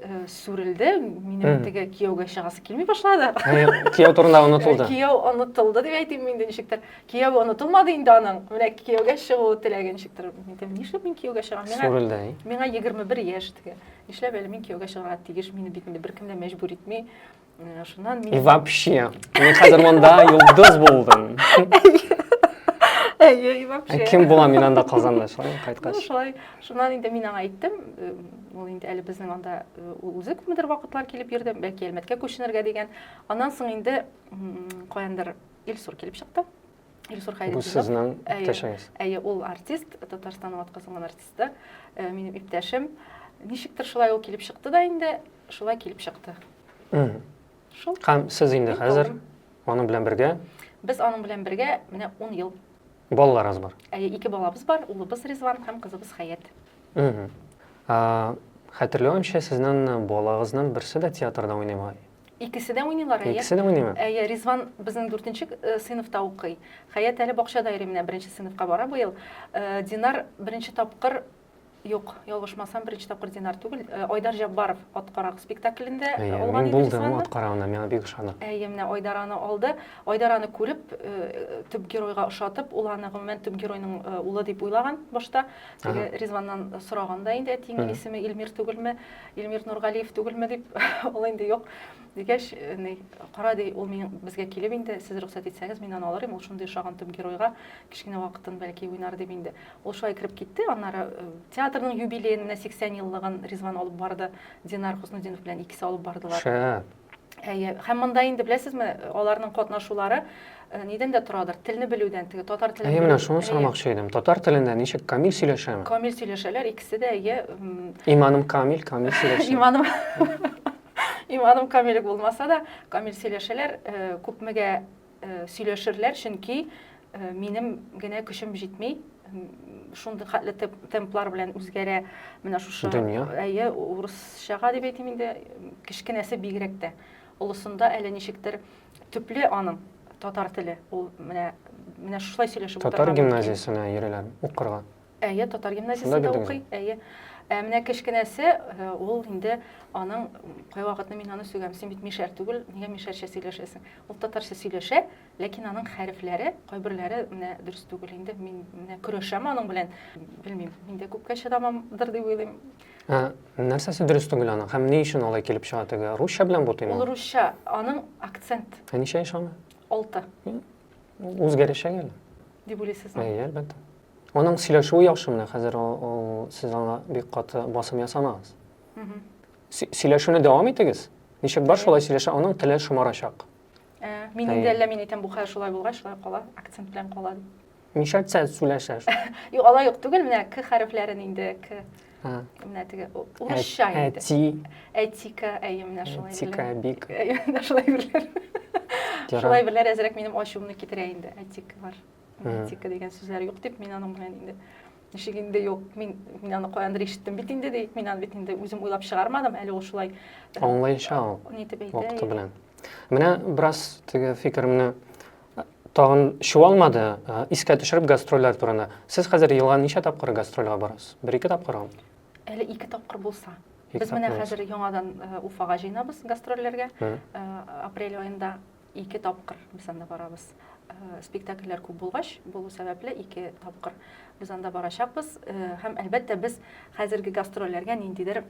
Э, сүрелде минем теге кияүгә чыгасы килми башлады кияү турында онытылды э, кияү онытылды дип әйтим инде ничектер кияү онытылмады инде аның менә кияүгә чыгу теләге ничектер нишләп мин кияүгә чыгам сүрелде миңа егерме бер яшь теге нишләп әле мин кияүгә чыгарга тиеш мине бит инде беркем дә мәҗбүр итми Менә шуннан И мин вообще, мин хәзер монда йолдыз булдым. Әйе, и Ә вообще. Кем булам мин анда Казанда, шулай Ну, кайткач. шулай. Шуннан инде мин аңа әйттем, э, ул инде әле безнең анда э, ул үзе күпмедер вакытлар килеп йөрде, бәлки Әлмәткә күченергә дигән. Аннан соң инде м, каяндыр Илсур килеп чыкты. Илсур Бу Хәйретдинов. сезнең Әйе. иптәшегез. Әйе, ул артист, Татарстанның атказанган артисты, э, минем иптәшем. Ничектер шулай ул килеп чыкты да инде. шулай килеп чыкты. Шул. Һәм сез инде хәзер аның белән бергә? Без аның белән бергә менә 10 ел. Балаларыгыз бар? Әйе, ике балабыз бар, улыбыз Ризван һәм кызыбыз Хәят. Хәтерләвемчә, сезнең балагызның берсе дә театрда уйнамый. Икесе дә уйныйлар, әйе. Икесе дә уйныймы? Әйе, Ризван безнең 4 э, сыйныфта укый. Хәят әле бакчада йөри, менә 1 сыйныфка бара быел. Э, Динар беренче тапкыр Юк, ялгышмасам, беренче тапкыр Динар түгел, э, Айдар Җаббаров ат карак спектаклендә Әйе, алган мин иде булдым Русланны. ат карагында, миңа бик ошады. Әйе, менә Айдар аны алды. Айдар аны күреп, э, төп геройга ошатып, ул аны гомумән төп геройның э, улы дип уйлаган башта. Теге Ага. Ризваннан сораган да инде әтиеңнең Мгм. исеме Илмир түгелме, Илмир Нургалиев түгелме дип, ул инде юк. Дигәч, э, ни, кара ди, ул мин безгә килеп инде, сез рөхсәт итсәгез, мин аны алыр идем, ул шундый ошаган төп геройга, кечкенә вакытын бәлки уйнар дип инде. Ул шулай кереп китте, аннары э, театрның юбилеен, менә 80 еллыгын Ризван алып барды, Динар Хуснудинов белән икесе алып бардылар. Шәп. Әйе, һәм монда инде беләсезме, аларның катнашулары э, нидән дә торадыр, телне белүдән, теге татар телен. Әйе, менә шуны сорамакчы идем. Татар телендә ничек камил сөйләшәме? Камил сөйләшәләр, икесе дә әйе. Иманым камил, камил сөйләшә. Иманым Иманым камил булмаса да, камил сөйләшәләр, э, күпмегә э, сөйләшерләр, чөнки э, минем генә көчем җитми, шундый хәтле темплар белән үзгәрә менә шушы дөнья әйе урысчага дип әйтим инде кечкенәсе бигрәк тә олысында әле ничектер төпле аның татар теле ул менә менә шулай сөйләшеп татар гимназиясенә йөриләр укырга Әйе, татар гимназиясендә укый. Әйе. Ә менә кечкенәсе, э, ул инде аның кайвакытны мин аны сөйләм, син бит мишәр түгел, нигә мишәрчә сөйләшәсең? Ул татарча сөйләшә, ләкин аның хәрефләре, кайберләре менә дөрес түгел инде. Мин менә көрәшәм аның белән. Белмим, мин дә күпкә чыдамамдыр дип уйлыйм. Ә нәрсәсе дөрес түгел аның? Һәм ни өчен алай килеп чыга теге? Русча белән бутыймы? Ул русча, аның акцент. Ә ничә яшь аны? 6. Үзгәрәчәк әле. Дип уйлыйсызмы? Әйе, әлбәттә. Аның сөйләшүе яхшы менә хәзер ул сез аңа бик каты басым ясамагыз. Сөйләшүне дәвам итегез. Ничек бар шулай сөйләшә, аның теле шомарачак. Ә, мин инде әллә мин әйтәм бу хәл шулай булгач, шулай кала, акцент белән кала. Ничә әйтсә сөйләшә. Юк, алай юк түгел, менә к хәрефләрен инде к менә теге урысча инде. Әти. Әтика, әйе, менә шулай. Әтика бик. Әйе, менә шулай берләр. Шулай берләр әзрәк минем ачуымны китерә инде, әтик бар. Этика дигән сүзләр юк дип, мин аның белән инде ничек инде юк, мин, мин аны каяндыр ишеттем бит инде, ди, мин аны бит инде үзем уйлап чыгармадым, әле ул шулай. Аңлаенча ул. Нитеп әйтә. Вакыты белән. Менә бераз теге фикеремне тагын чуалмады, искә төшереп гастрольләр турында. Сез хәзер елга ничә тапкыр гастрольгә барасыз? Бер ике тапкырмы? Әле ике тапкыр булса. Без менә хәзер яңадан Уфага җыенабыз гастрольләргә. Апрель аенда Ике тапкыр без анда барабыз. Э, спектакльләр күп булгач, булу сәбәпле ике тапкыр без анда барачакбыз. Э, һәм әлбәттә без хәзерге гастрольләргә ниндидер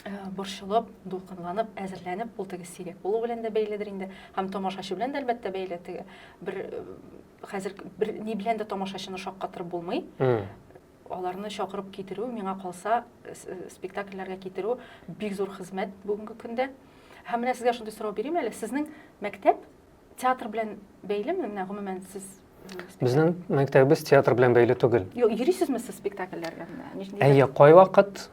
Э, борчылып, дулкынланып, әзерләнеп, ул теге сирәк булу белән дә бәйледер инде, һәм тамашачы белән дә әлбәттә бәйле теге бер э, хәзер бер ни белән дә тамашачыны шаккатырып булмый. Аларны чакырып китерү, миңа калса, спектакльләргә китерү бик зур хезмәт бүгенге көндә. Һәм менә сезгә шундый сорау бирим әле, сезнең мәктәп театр белән бәйлеме? Менә гомумән сез Безнең мәктәбебез театр белән бәйле түгел. Юк, йөрисезме сез спектакльләргә? Әйе, кайвакыт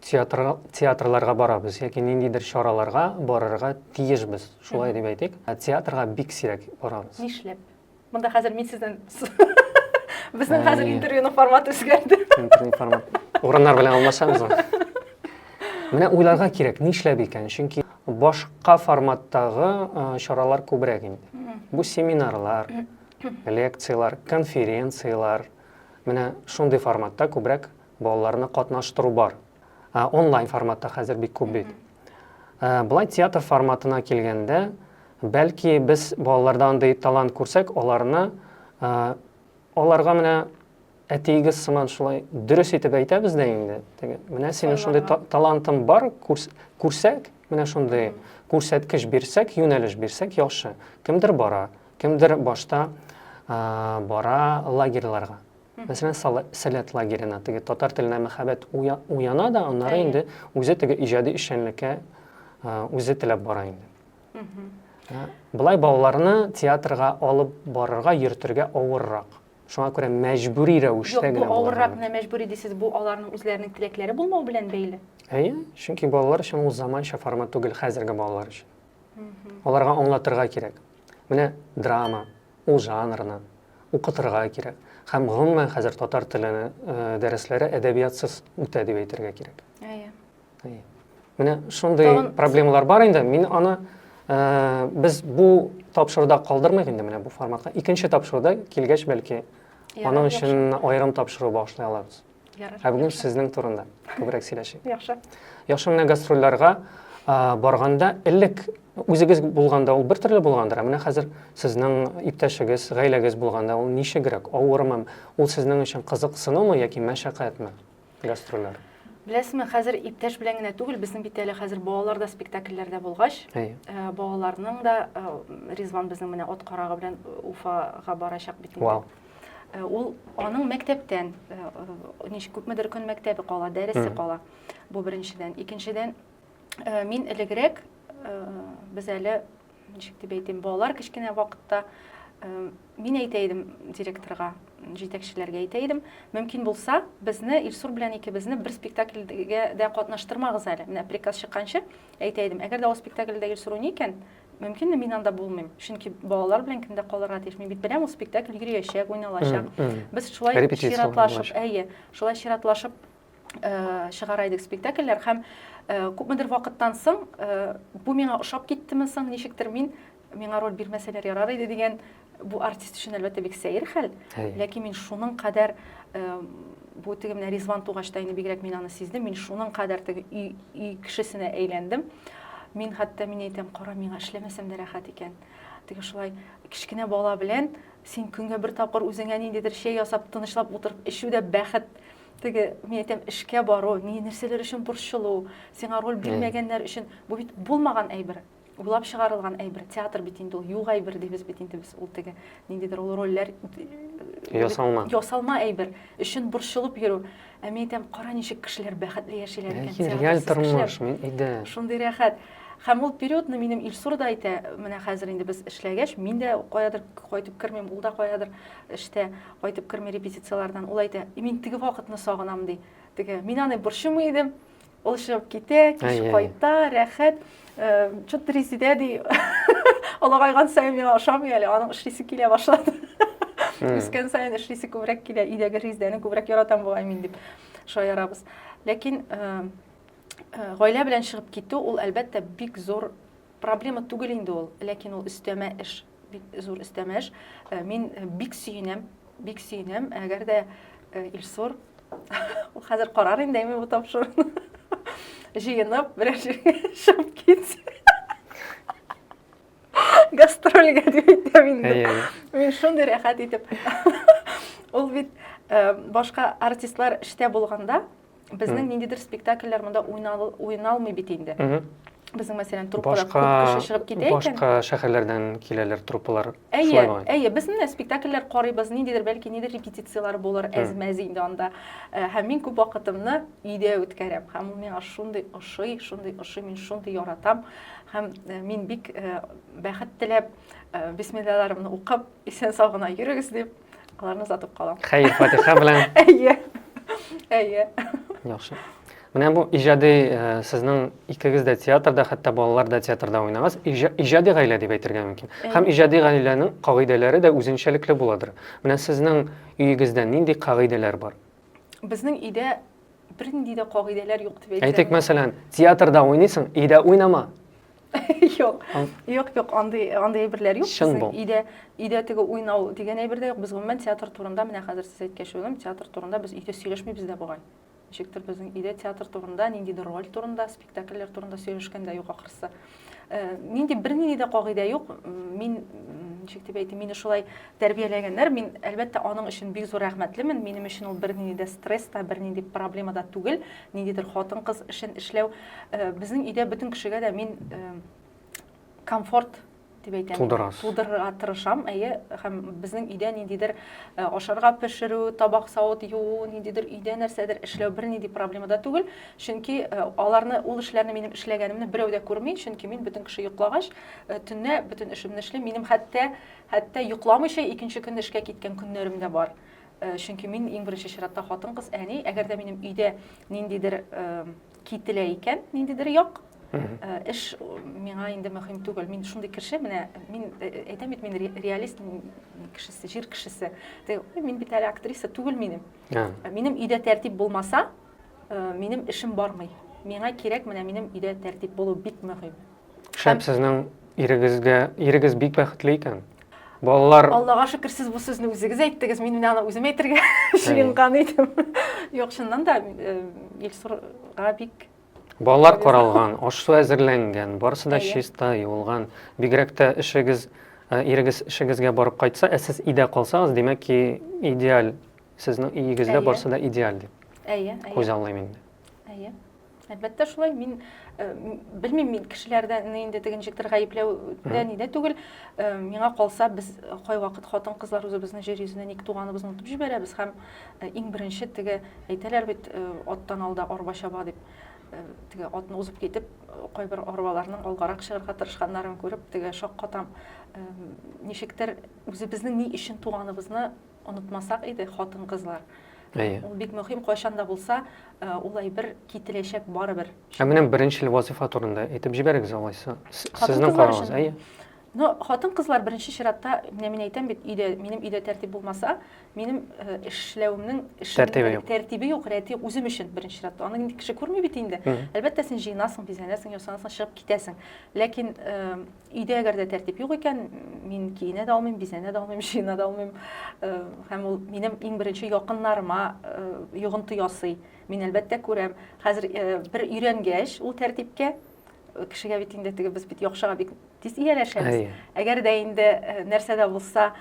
театр, театрларга барабыз яки ниндидер чараларга барырга тиешбез, шулай дип әйтик. Ә театрга бик сирәк барабыз. Нишләп? Монда хәзер мин сездән Безнең хәзер интервьюның форматы үзгәрде. Интервью формат. Урыннар белән алмашабыз. Менә уйларга кирәк, нишләп икән? Чөнки башка форматтагы чаралар күбрәк инде. Бу семинарлар, лекциялар, конференциялар. Менә шундый форматта күбрәк балаларны катнаштыру бар. Ә, онлайн форматта хәзер бик күп бит. Ә, былай театр форматына килгәндә, бәлки без балаларда андый талант күрсәк, аларны ә, аларга менә әтиегез сыман шулай дөрес итеп әйтәбез дә инде. Теге, менә синең шундый та талантың бар, күрс күрсәк, менә шундый күрсәткеч бирсәк, юнәлеш бирсәк яхшы. Кемдер бара, кемдер башта ә, бара лагерьларга. Мәсәлән, Сәләт лагерена теге татар теленә мәхәббәт уяна да, аннары инде үзе теге иҗади эшчәнлеккә үзе теләп бара инде. Былай балаларны театрга алып барырга, йөртергә авыррак. Шуңа күрә мәҗбүри рәвештә генә. Юк, бу авыррак менә мәҗбүри дисез, бу аларның үзләренең теләкләре булмау белән бәйле. Әйе, чөнки балалар өчен ул заманча формат түгел хәзерге балалар өчен. Аларга аңлатырга кирәк. Менә драма, ул жанрны укытырга кирәк. Һәм гомумән хәзер татар теле дәресләре әдәбиятсыз үтә дип әйтергә кирәк. Әйе. Әйе. Менә шундый проблемалар бар инде. Мин аны без бу тапшыруда калдырмыйк инде менә бу форматка. Икенче тапшыруда килгәч бәлки аның өчен аерым тапшыру башлый алабыз. Ә бүген сезнең турында күбрәк сөйләшик. Яхшы. Яхшы менә гастрольләргә барганда элек үзегез булганда ул бер төрле булгандыр, ә менә хәзер сезнең иптәшегез, гаиләгез булганда ул ничегрәк, авырмы? Ул сезнең өчен кызыксынумы яки мәшәкатьме гастрольләр? Беләсезме, хәзер иптәш белән генә түгел, безнең бит әле хәзер балалар да спектакльләрдә булгач, э, балаларның да э, Ризван безнең менә от карагы белән Уфага барачак бит инде. Э, ул аның мәктәптән э, э, ничек күпмедер көн мәктәбе кала дәресе кала бу беренчедән икенчедән мин элегрәк без әле ничек дип әйтим балалар кечкенә вакытта мин әйтә идем директорга җитәкчеләргә әйтә идем мөмкин булса безне илсур белән икебезне бер спектакльгә дә катнаштырмагыз әле менә приказ чыкканчы әйтә идем әгәр дә ул спектакльдә илсур уйный икән мөмкинме, мин анда булмыйм. Чөнки балалар белән кемдә калырга тиеш? Мин бит беләм, ул спектакль йөриячәк, уйналачак. Без шулай чиратлашып, әйе, шулай чиратлашып э, чыгара идек спектакльләр һәм э, күпмедер вакыттан соң э, бу миңа ошап киттеме соң, ничектер мин миңа роль бирмәсәләр ярар иде дигән Бу артист өчен әлбәттә бик сәер хәл, ләкин мин шуның кадәр бу теге менә Ризван тугач та инде бигрәк мин аны сиздем, мин шуның кадәр теге өй кешесенә әйләндем. Мин хәтта мин әйтәм, кара миңа эшләмәсәм дә рәхәт икән. Теге шулай кечкенә бала белән син көнгә бер тапкыр үзеңә ниндидер чәй ясап тынычлап утырып эчү дә бәхет теге мин әйтәм эшкә бару ни нәрсәләр өчен борчылу сиңа роль бирмәгәннәр өчен бу бит булмаган әйбер уйлап чыгарылган әйбер театр бит инде ул юк әйбер дибез бит инде без ул теге ниндидер ул рольләр э, ясалма ясалма әйбер өчен борчылып йөрү ә мин әйтәм кара ничек кешеләр бәхетле яшиләр икән реаль тормыш мин әйдә шундый рәхәт һәм ул периодны минем илсур да әйтә менә хәзер инде без эшләгәч мин дә каядыр кайтып кермим ул да каядыр эштә кайтып керми репетицияләрдән ул әйтә мин теге вакытны сагынам ди теге мин аны борчымый идем Ул чыгып китә, кич кайта, рәхәт. Чут Резидә ди, олыгайган саен миңа ошамый әле, аның эшлисе килә башлады. Үскән саен эшлисе күбрәк килә, өйдәге Резидәне күбрәк яратам бугай мин дип шаярабыз. Ләкин гаилә белән чыгып китү ул әлбәттә бик зур проблема түгел инде ул, ләкин ул өстәмә эш. Бик зур өстәмә эш. Э, мин э, бик сөенәм, бик сөенәм, әгәр дә э, Илсур хәзер карар инде әйме бу тапшыруны. Җыенып, берәр җиргә чыгып китсә. Гастрольгә дип әйтәм инде. Мин шундый рәхәт итеп. Ул бит башка артистлар эштә булганда, Безнең ниндидер спектакльләр монда уйналмый бит инде. Безнең мәсәлән труппада күп кеше чыгып китә икән. Башка шәһәрләрдән киләләр труппалар. Әйе, әйе, без менә спектакльләр карыйбыз, ниндидер бәлки нидер репетицияләр булыр, әзмәз инде анда. Э, һәм мин күп вакытымны өйдә үткәрәм. Һәм ул миңа шундый ошый, шундый ошый, мин шундый яратам. Һәм э, мин бик э, бәхет теләп, бисмиллаларымны укып, исән сау гына йөрегез дип, аларны озатып калам хәер фатиха белән әйе әйе яхшы менә бу иҗади э, сезнең икегез дә театрда хәтта балалар да театрда уйнагыз иҗади гаилә дип әйтергә мөмкин һәм иҗади гаиләнең кагыйдәләре дә үзенчәлекле буладыр менә сезнең өегездә нинди кагыйдәләр бар безнең өйдә бернинди дә кагыйдәләр юк дип әйтсәм әйтик мәсәлән театрда уйныйсың өйдә уйнама Юк. Юк, юк, андый андый әйберләр юк. Чын бу. Өйдә өйдә теге уйнау дигән әйбер дә юк. Без гомумән театр турында менә хәзер сез әйткәч уйлым, театр турында без өйдә сөйләшмибез дә бугай. Ничектер безнең өйдә театр турында, ниндидер роль турында, спектакльләр турында сөйләшкән дә юк ахрысы. Э, нинди бернинди дә кагыйдә юк. Мин ничек дип әйтим, мине шулай тәрбияләгәннәр. Мин, әлбәттә, аның өчен бик зур рәхмәтлемен. Минем өчен ул бернинди дә стресс та, бернинди проблема да түгел. Ниндидер хатын-кыз эшен эшләү. Э, безнең өйдә бөтен кешегә дә мин э, комфорт дип әйтәм. Тудырас. Тудырырга тырышам, әйе, һәм безнең өйдә ниндидер э, ашарга пешерү, табак савыт юу, ниндидер өйдә нәрсәдер эшләү бернинди проблема да түгел. Чөнки э, аларны ул эшләрне минем эшләгәнемне берәү дә күрми, чөнки мин бөтен кеше йоклагач, э, төнлә бөтен эшемне эшлим. Минем хәтта Хәтта йокламыйча икенче көн эшкә киткән көннәрем дә бар. Чөнки мин иң беренче чиратта хатын-кыз, әни, әгәр дә минем өйдә ниндидер кителә икән, ниндидер як, эш миңа инде мөһим түгел. Мин шундый кеше, менә мин әйтәм бит, мин реалист кешесе, җир кешесе. Мин бит әле актриса түгел минем. Минем өйдә тәртип булмаса, минем эшем бармый. Миңа кирәк, менә минем өйдә тәртип булу бик мөһим. Шәп сезнең ирегезгә, ирегез бик бәхетле икән. Балалар... Аллага шөкер, сез бу сүзне үзегез әйттегез, мин менә аны үзем әйтергә җыенган идем. Юк, чыннан да э, Илсурга бик Балалар каралган, аш-су әзерләнгән, барысы да чиста, юылган. Бигрәк тә эшегез, э, ирегез эшегезгә барып кайтса, ә сез өйдә калсагыз, димәк ки, идеаль. Сезнең өегездә барысы да идеаль дип. Әйе, әйе. Күз аллыйм инде. Әйе. Әлбәттә шулай, мин э, белмим, мин кешеләрдән инде теге ничектер гаепләүдә нидә түгел. Э, миңа калса, без кайвакыт хатын-кызлар үзебезнең җир йөзенә ник туганыбызны онытып җибәрәбез һәм э, иң беренче теге әйтәләр бит, э, аттан алда арба чаба дип. Э, теге атны узып китеп, э, кайбер арбаларның алгарак чыгарга тырышканнарын күреп, теге шаккатам. Э, ничектер үзебезнең ни өчен туганыбызны Онытмасак иде, хатын-кызлар. Әйе. Ул бик мөһим, кайчан да булса, ул әйбер кителәчәк барыбер. Ә менә беренчел вазифа турында әйтеп җибәрегез алайса. Сезнең карагыз, әйе. Ну, хатын-кызлар беренче чиратта, менә мин әйтәм бит, өйдә, минем өйдә тәртип булмаса, минем эшләвемнең тәртибе юк, рәте үзем өчен беренче чиратта. Аны инде кеше күрми бит инде. Әлбәттә, син җыенасың, бизәнәсең, ясанасың, чыгып китәсең. Ләкин Өйдә әгәр дә тәртип юк икән, мин киенә дә алмыйм, бизәнә дә алмыйм, җыена да алмыйм. Э, һәм ул минем иң беренче якыннарыма э, йогынты ясый. Мин әлбәттә күрәм. Хәзер э, бер өйрәнгәч ул тәртипкә кешегә бит инде теге без бит яхшыга бик тиз ияләшәбез. Әгәр дә инде нәрсә дә булса,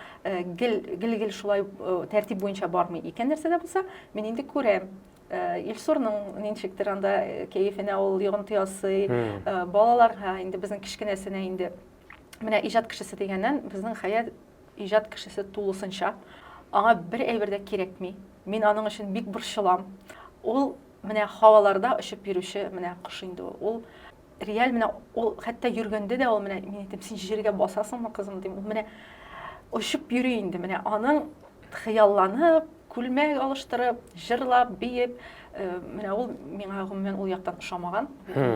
гел гел гел шулай тәртип буенча бармый икән нәрсә дә булса, мин инде күрәм. Э, Илсурның ничектер анда э, кәефенә ул йогынты ясый, э, балаларга инде безнең кечкенәсенә инде менә иҗат кешесе дигәннән безнең Хәят иҗат кешесе тулысынча. Аңа бер әйбер дә кирәкми. Мин аның өчен бик борчылам. Ул менә һаваларда очып йөрүче менә кош инде ул. Ул реаль менә ул хәтта йөргәндә дә ул менә мин әйтәм син җиргә басасыңмы кызым дим ул менә очып йөри инде менә аның хыялланып күлмәк алыштырып җырлап биеп э, менә ул миңа гомумән ул яктан ошамаган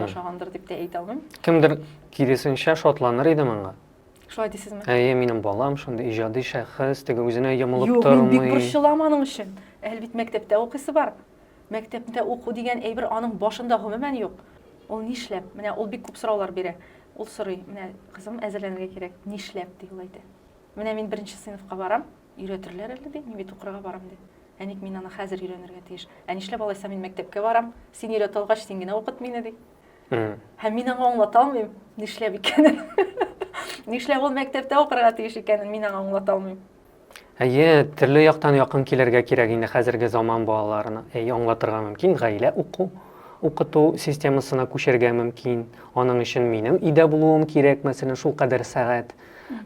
ошагандыр дип тә әйтә алмыйм кемдер киресенчә шатланыр иде моңа шулай дисезме әйе минем балам шундый иҗади шәхес теге үзенә йомылып тормый юк мин бик борчылам аның өчен әле бит мәктәптә укыйсы бар Мәктәптә уку дигән әйбер аның башында гомумән юк. Ул нишләп? Менә ул бик күп сораулар бирә. Ул сорый, менә кызым әзерләнергә кирәк, нишләп ди ул әйтә. Менә мин беренче сыйныфка барам, өйрәтерләр әле ди, мин бит укырга барам ди. Ә ник мин аны хәзер өйрәнергә тиеш? Ә нишләп алайса мин мәктәпкә барам, син өйрәтә алгач, син генә укыт мине ди. Һәм мин аңа аңлата алмыйм, нишләп икәнен. Нишләп ул мәктәптә укырга тиеш икәнен мин аңа аңлата алмыйм. Әйе, төрле яктан якын килергә кирәк инде хәзерге заман балаларына. Әй, аңлатырга мөмкин, гаилә уку, укыту системасына күчергә мөмкин. Аның өчен минем өйдә булуым кирәк, мәсәлән, шул кадәр сәгать.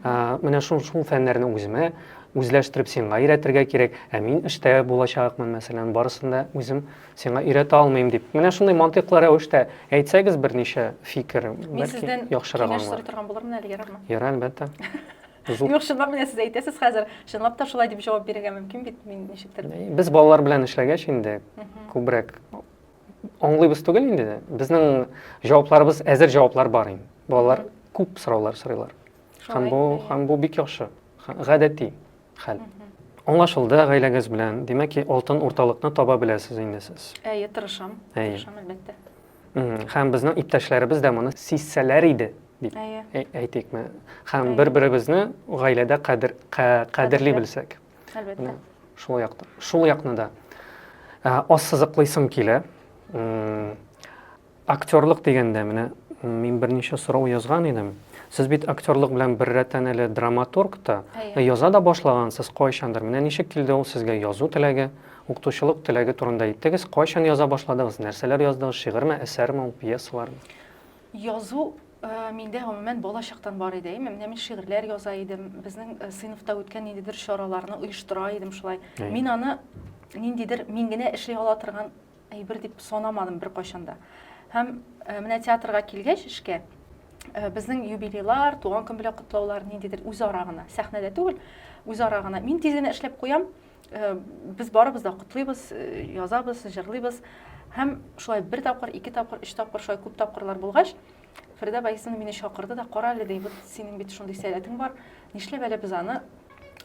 Менә шул шул фәннәрне үземә үзләштереп сиңа өйрәтергә кирәк, ә мин эштә булачакмын, мәсәлән, барысын да үзем сиңа өйрәтә алмыйм дип. Менә шундый мантыйклы рәвештә әйтсәгез берничә фикер, бәлки яхшырак аңлар. Мин сездән киңәш сорый торган булырмын әле, ярармы? Ярар, әлбәттә. Зур. Юк, чынлап менә сез әйтәсез хәзер, чынлап та шулай дип җавап бирергә мөмкин бит, мин ничектер. Без балалар белән эшләгәч инде күбрәк аңлыйбыз түгел инде. Безнең җавапларыбыз әзер җаваплар бар инде. Балалар күп сораулар сорыйлар. Һәм бу һәм бу бик яхшы. Гадәти хәл. Аңлашылды гаиләгез белән. Димәк, алтын урталыкны таба беләсез инде сез. Әйе, тырышам. Тырышам, әлбәттә. Һәм безнең иптәшләребез дә моны сизсәләр иде, дип әйтикме. Һәм бер-беребезне гаиләдә кадер кадерли белсәк. Әлбәттә. Шул якта. Шул якны да ассызыклыйсым килә. Актерлык дигәндә менә мин берничә сорау язган идем. Сез бит актерлык белән беррәттән әле драматург та, яза да башлагансыз кайчандыр. Менә ничек килде ул сезгә язу теләге? Укытучылык теләге турында әйттегез. Кайчан яза башладыгыз? Нәрсәләр яздыгыз? Шигырьме, әсәрме ул, пьесалармы? Язу миндә гомумән бала чактан бар иде. Менә мин шигырьләр яза идем. Безнең сыйныфта үткән ниндидер чараларны оештыра идем шулай. Мин аны ниндидер мин генә эшли ала торган әйбер дип санамадым беркайчан да. Һәм менә театрга килгәч эшкә, безнең юбилейлар, туган көн белән котлаулар ниндидер үзара гына, сәхнәдә түгел, үзара гына. Мин тиз генә эшләп куям, Э, без барыбыз да котлыйбыз э, язабыз җырлыйбыз һәм шулай бер тапкыр ике тапкыр өч тапкыр шулай күп тапкырлар булгач фәридә байсина мине чакырды да кара әле ди вот синең бит шундый сәләтең бар нишләп әле без аны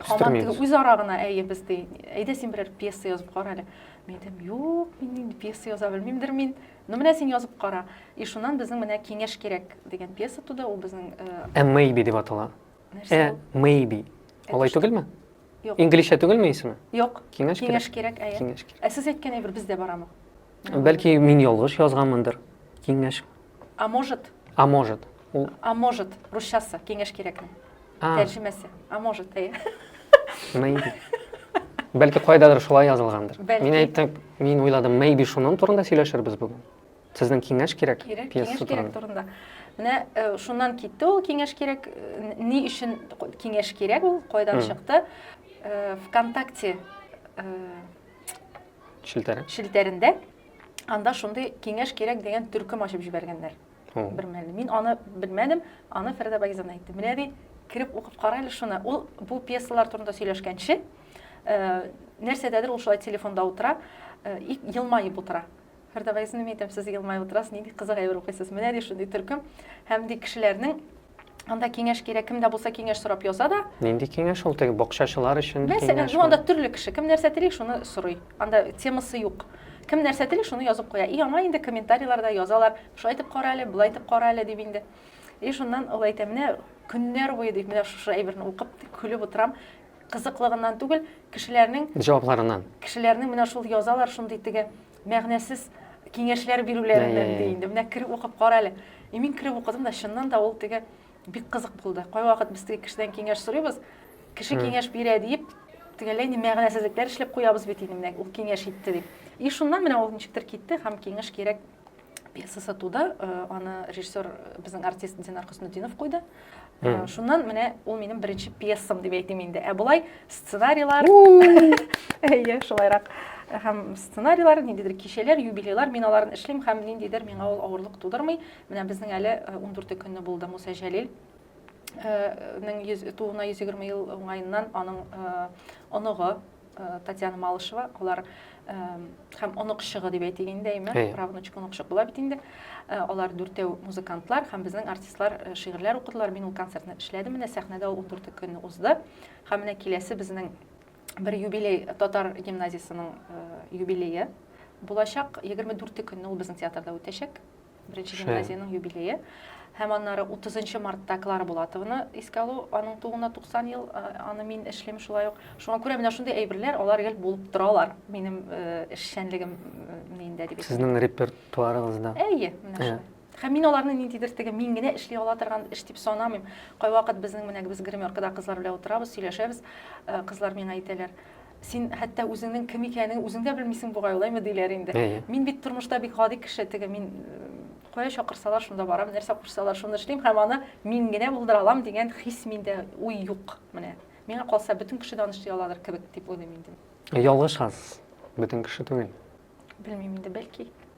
һаман теге үзара гына әйе без ди әйдә син берәр пьеса язып кара әле мин әйтәм юк мин инде пьеса яза белмимдер мин ну менә син язып кара и шуннан безнең менә киңәш кирәк дигән пьеса туды ул безнең э, ә мэйби дип атала Нәрсә? Э, maybe. Алай түгелме? Юк. Инглизчә түгелме исеме? Юк. Киңәш кирәк. Киңәш кирәк, әйе. Киңәш кирәк. Ә сез әйткән әйбер бездә барамы? Бәлки мин ялгыш язганмындыр. Киңәш. А может? А может. Ул А может, русчасы, киңәш кирәкме? А. Тәрҗемәсе. А может, әйе. Maybe. Бәлки кайдадыр шулай язылгандыр. Бәлки. Мин әйттем, мин уйладым, maybe шуның турында сөйләшербез бүген. Сезнең киңәш кирәк? Кирәк, киңәш кирәк турында. Менә э, шуннан китте ул киңәш кирәк. Э, ни өчен киңәш кирәк ул? Кайдан чыкты? Э, ВКонтакте челтәре. Челтәрендә анда шундый киңәш кирәк дигән төркем ачып җибәргәннәр. Бер мәлне. Мин аны белмәдем, аны Фәридә Багизан әйтте. Менә ди, кереп укып кара әле шуны. Ул бу пьесалар турында сөйләшкәнче, нәрсәдәдер ул шулай телефонда утыра, елмаеп утыра. Һәрдагайсын мин әйтәм, сез елмаеп утырасыз, нинди кызык әйбер укыйсыз. Менә ди шундый төркем. Һәм ди кешеләрнең анда киңәш кирәк, кемдә булса киңәш сорап яза да. Нинди киңәш ул теге бакчачылар өчен? Мәсәлән, ну анда төрле кеше, кем нәрсә тели, шуны сорый. Анда темасы юк. Кем нәрсә тели, шуны язып куя. И аңа инде комментарийларда язалар, шулай итеп кара әле, болай итеп кара әле дип инде. И шуннан ул әйтә, менә көннәр буе дип, менә шушы әйберне укып, көлеп утырам кызыклыгыннан түгел, кешеләрнең җавапларыннан. Кешеләрнең менә шул язалар шундый теге Мәгънәсез киңәшләр бирүләреннән ди инде. Менә кереп укып кара әле. И мин кереп укыдым да чыннан да ул теге бик кызык булды. Кайвакыт без теге кешедән киңәш сорыйбыз. Кеше киңәш бирә диеп, тегеләй ни мәгънәсезлекләр эшләп куябыз бит инде менә ул киңәш итте дип. И шуннан менә ул ничектер китте һәм киңәш кирәк пьеса сатуда э, аны режиссер э, безнең артист динар хөснутдинов куйды э, шуннан менә ул минем беренче пьесам дип әйтим инде ә болай сценарийлар әйе шулайрак һәм сценарийлар ниндидер кичәләр юбилейлар мин аларны эшлим һәм ниндидер миңа ул авырлык тудырмый менә безнең әле ундүрте көнне булды муса җәлил тууына йөз егерме ел уңаеннан аның оныгы Э, Татьяна Малышева, алар э, һәм онык чыгы дип әйтик инде, әйме, правнучык, онык чык була бит инде. Э, алар дүртәү музыкантлар һәм безнең артистлар шигырьләр укыдылар. Мин ул концертны эшләдем, менә сәхнәдә ул 14 көн узды. Һәм менә киләсе безнең бер юбилей татар гимназиясенең юбилее булачак. 24 көнне ул безнең театрда үтәчәк. Беренче гимназиянең юбилее. Һәм аннары 30 мартта Клара Булатованы искә алу, аның тууына 90 ел, аны мин эшлим шулай ук. Шуңа күрә менә шундый әйберләр, алар гел булып торалар минем эшчәнлегем миндә дип. Сезнең репертуарыгызда. Әйе, менә шулай. Һәм мин аларны ниндидер теге мин генә эшли ала торган эш дип санамыйм. Кайвакыт безнең менә без гримеркада кызлар белән утырабыз, сөйләшәбез. Кызлар миңа әйтәләр, Син хәтта үзеңнең кем икәнен үзең дә белмисең бугай, алаймы диләр инде. Мин бит тормышта бик гади кеше, теге мин кая чакырсалар, шунда барам, нәрсә кушсалар, шуны эшлим һәм аны мин генә булдыра алам дигән хис миндә, уй юк. Менә миңа калса, бөтен кеше дә аны эшли аладыр кебек дип уйлыйм инде. Ялгышасыз. Бөтен кеше түгел. Белмим инде, бәлки.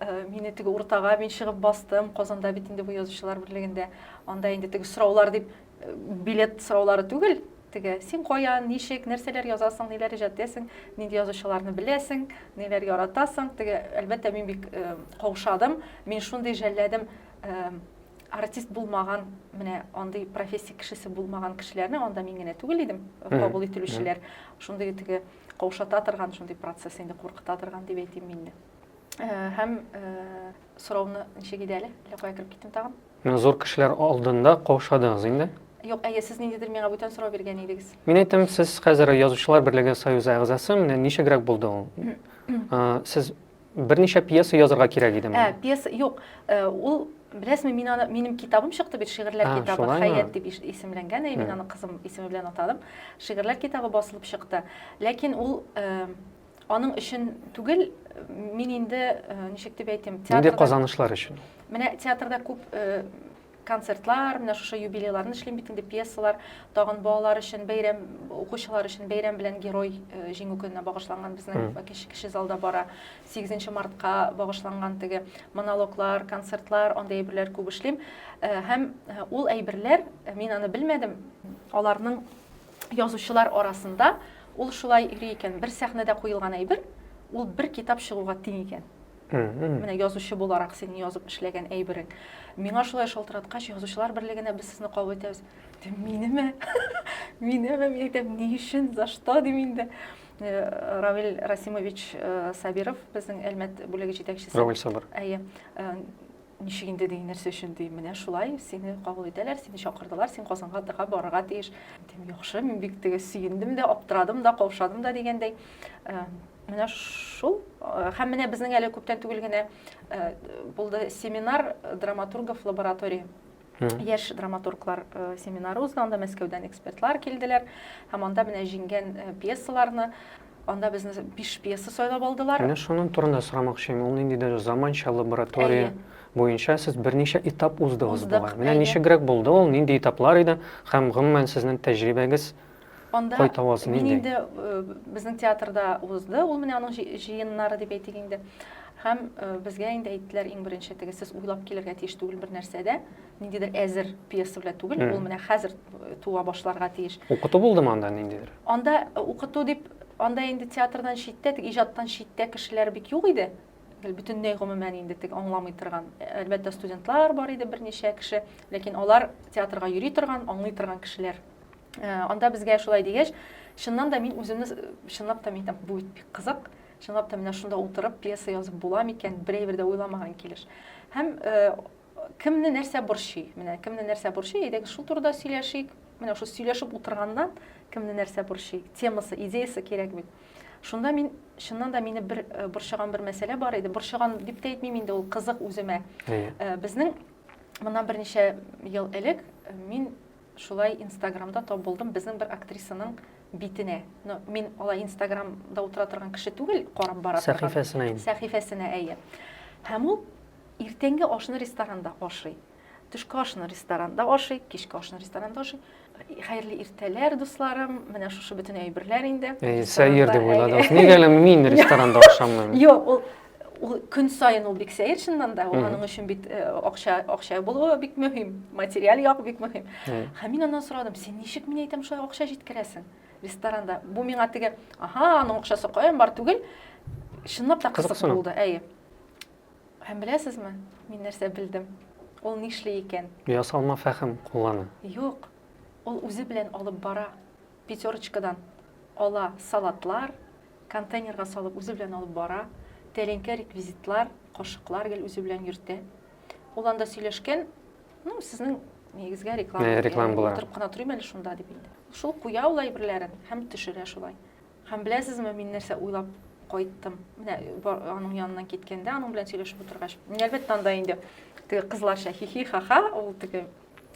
Э, мине теге уртага мин чыгып бастым казанда бит инде бу язучылар берлегендә анда инде теге сораулар дип э, билет сораулары түгел теге син каян ничек нәрсәләр язасың ниләр иҗат итәсең нинди язучыларны беләсең ниләр яратасың теге әлбәттә мин бик э, каушадым мин шундый жәлләдем артист булмаган менә андый профессия кешесе булмаган кешеләрне анда мин генә түгел идем кабул ителүчеләр шундый теге каушата торган шундый процесс инде куркыта торган дип әйтим мин дә Э, һәм э, сорауны ничек иде әле әллә кая кереп киттем тагын мин зур кешеләр алдында каушадыңыз инде юк әйе сез ниндидер миңа бүтән сорау биргән идегез мин әйтәм сез хәзер язучылар берлеге союзы әгъзасы менә ничегрәк булды ул э, сез берничә пьеса язырга кирәк идеме ә пьеса юк ул беләсезме мин аны минем китабым чыкты бит шигырьләр китабы хәят дип исемләнгән мин аны кызым исеме белән атадым шигырьләр китабы басылып чыкты ләкин ул Аның өчен түгел, мин инде, ничек дип әйтим, театрда... Нинди казанышлар өчен? Менә театрда күп концертлар, менә шушы юбилейларны эшлим бит инде, пьесалар, тагын балалар өчен бәйрәм, укучылар өчен бәйрәм белән герой э, җиңү көненә багышланган безнең кеше, кеше залда бара. 8 мартка багышланган теге монологлар, концертлар, андый әйберләр күп эшлим. Э, һәм э, ул әйберләр, мин аны белмәдем, аларның Язучылар арасында ул шулай йөри икән. Бер сәхнәдә куелган әйбер, ул бер китап чыгуга тиң икән. Менә язучы буларак синең язып эшләгән әйберең. Миңа шулай шалтыраткач, язучылар берлегенә без сезне кабул итәбез. Минеме? Минеме? Мин әйтәм, ни өчен? За что? дим инде. Э, Равил Расимович э, Сабиров, безнең Әлмәт бүлеге җитәкчесе. Равил Сабыр. Әйе. Э, ничек инде ди нәрсә өчен ди менә шулай сине кабул итәләр сине чакырдылар син казанга тыга барырга тиеш дим яхшы мин бик теге сөендем дә аптырадым да каушадым да дигәндәй э, менә шул э, һәм менә безнең әле күптән түгел генә э, булды семинар драматургов лаборатории Яшь драматурглар семинары узды, анда Мәскәүдән экспертлар килделәр. Һәм анда менә җиңгән пьесаларны, анда безне биш пьеса сайлап алдылар. Менә шуның турында сорамакчы идем. Ул нинди дә заманча лаборатория буенча сез берничә этап уздыгыз бугай. Менә ничегрәк булды ул, нинди этаплар иде һәм гомумән сезнең тәҗрибәгез Анда кайта аласың мин инде э, безнең театрда узды ул менә аның җыеннары дип әйтик инде һәм э, безгә инде әйттеләр иң беренче теге сез уйлап килергә тиеш түгел бер нәрсәдә ниндидер әзер пьеса белән түгел ул менә хәзер э, туа башларга тиеш укыту булдымы анда ниндидер анда э, укыту дип анда инде театрдан читтә теге иҗаттан читтә кешеләр бик юк иде бөтенләй гомумән инде теге аңламый торган әлбәттә студентлар бар иде берничә кеше ләкин алар театрга йөри торган аңлый торган кешеләр Э, анда безгә шулай дигәч чыннан да мин үземне чынлап та мин бу бит бик кызык чынлап та менә шунда утырып пьеса язып була микән берәйбер дә уйламаган килеш һәм э, кемне нәрсә борчый менә кемне нәрсә борчый әйдәгез шул турыда сөйләшик менә шул сөйләшеп утырганнан кемне нәрсә борчый темасы идеясы кирәк бит шунда мин чыннан да мине бер э, борчыган бер мәсьәлә бар иде борчыган дип тә әйтмим инде ул кызык үземә безнең моннан берничә ел элек мин Шулай инстаграмда тап булдым безнең бер актрисаның битенә. Ну, мин алай инстаграмда утыра торган кеше түгел, карап бара торган. Сәхифәсенә инде. Сәхифәсенә, әйе. Һәм ул иртәнге ашны ресторанда ашый. Төшке ашны ресторанда ашый, кичке ашны ресторанда ашый. Хәерле иртәләр, дусларым. Менә шушы бөтен әйберләр инде. Әйе, сәер дип уйладыгыз. Нигә әле мин ресторанда ашамыйм? Юк, ул Ул көн саен ул бик сәер чыннан да, ул аның өчен бит акча, акча булуы бик мөһим, материаль як бик мөһим. Һәм мин аннан сорадым, син ничек мин әйтәм шулай акча җиткерәсең ресторанда? Бу миңа теге, аха, аның акчасы каян бар түгел. Чынлап та кызык булды, әйе. Һәм беләсезме, мин нәрсә белдем? Ул нишли икән? Ясалма фәһем куллана. Юк. Ул үзе белән алып бара. Пятерочкадан ала салатлар, Контейнерга салып үзе белән алып бара. Тәлинкә, реквизитлар, кашыклар гел үзе белән йөртә. Ул анда сөйләшкән, ну, сезнең нигезгә реклама. Ә, реклама була. Утырып кына торыйм әле шунда дип инде. Шул куя ул әйберләрен һәм төшерә шулай. Һәм беләсезме, мин нәрсә уйлап кайттым? Менә аның яныннан киткәндә, аның белән сөйләшеп утыргач, мин әлбәттә анда инде теге кызларча хихи ха-ха, ул теге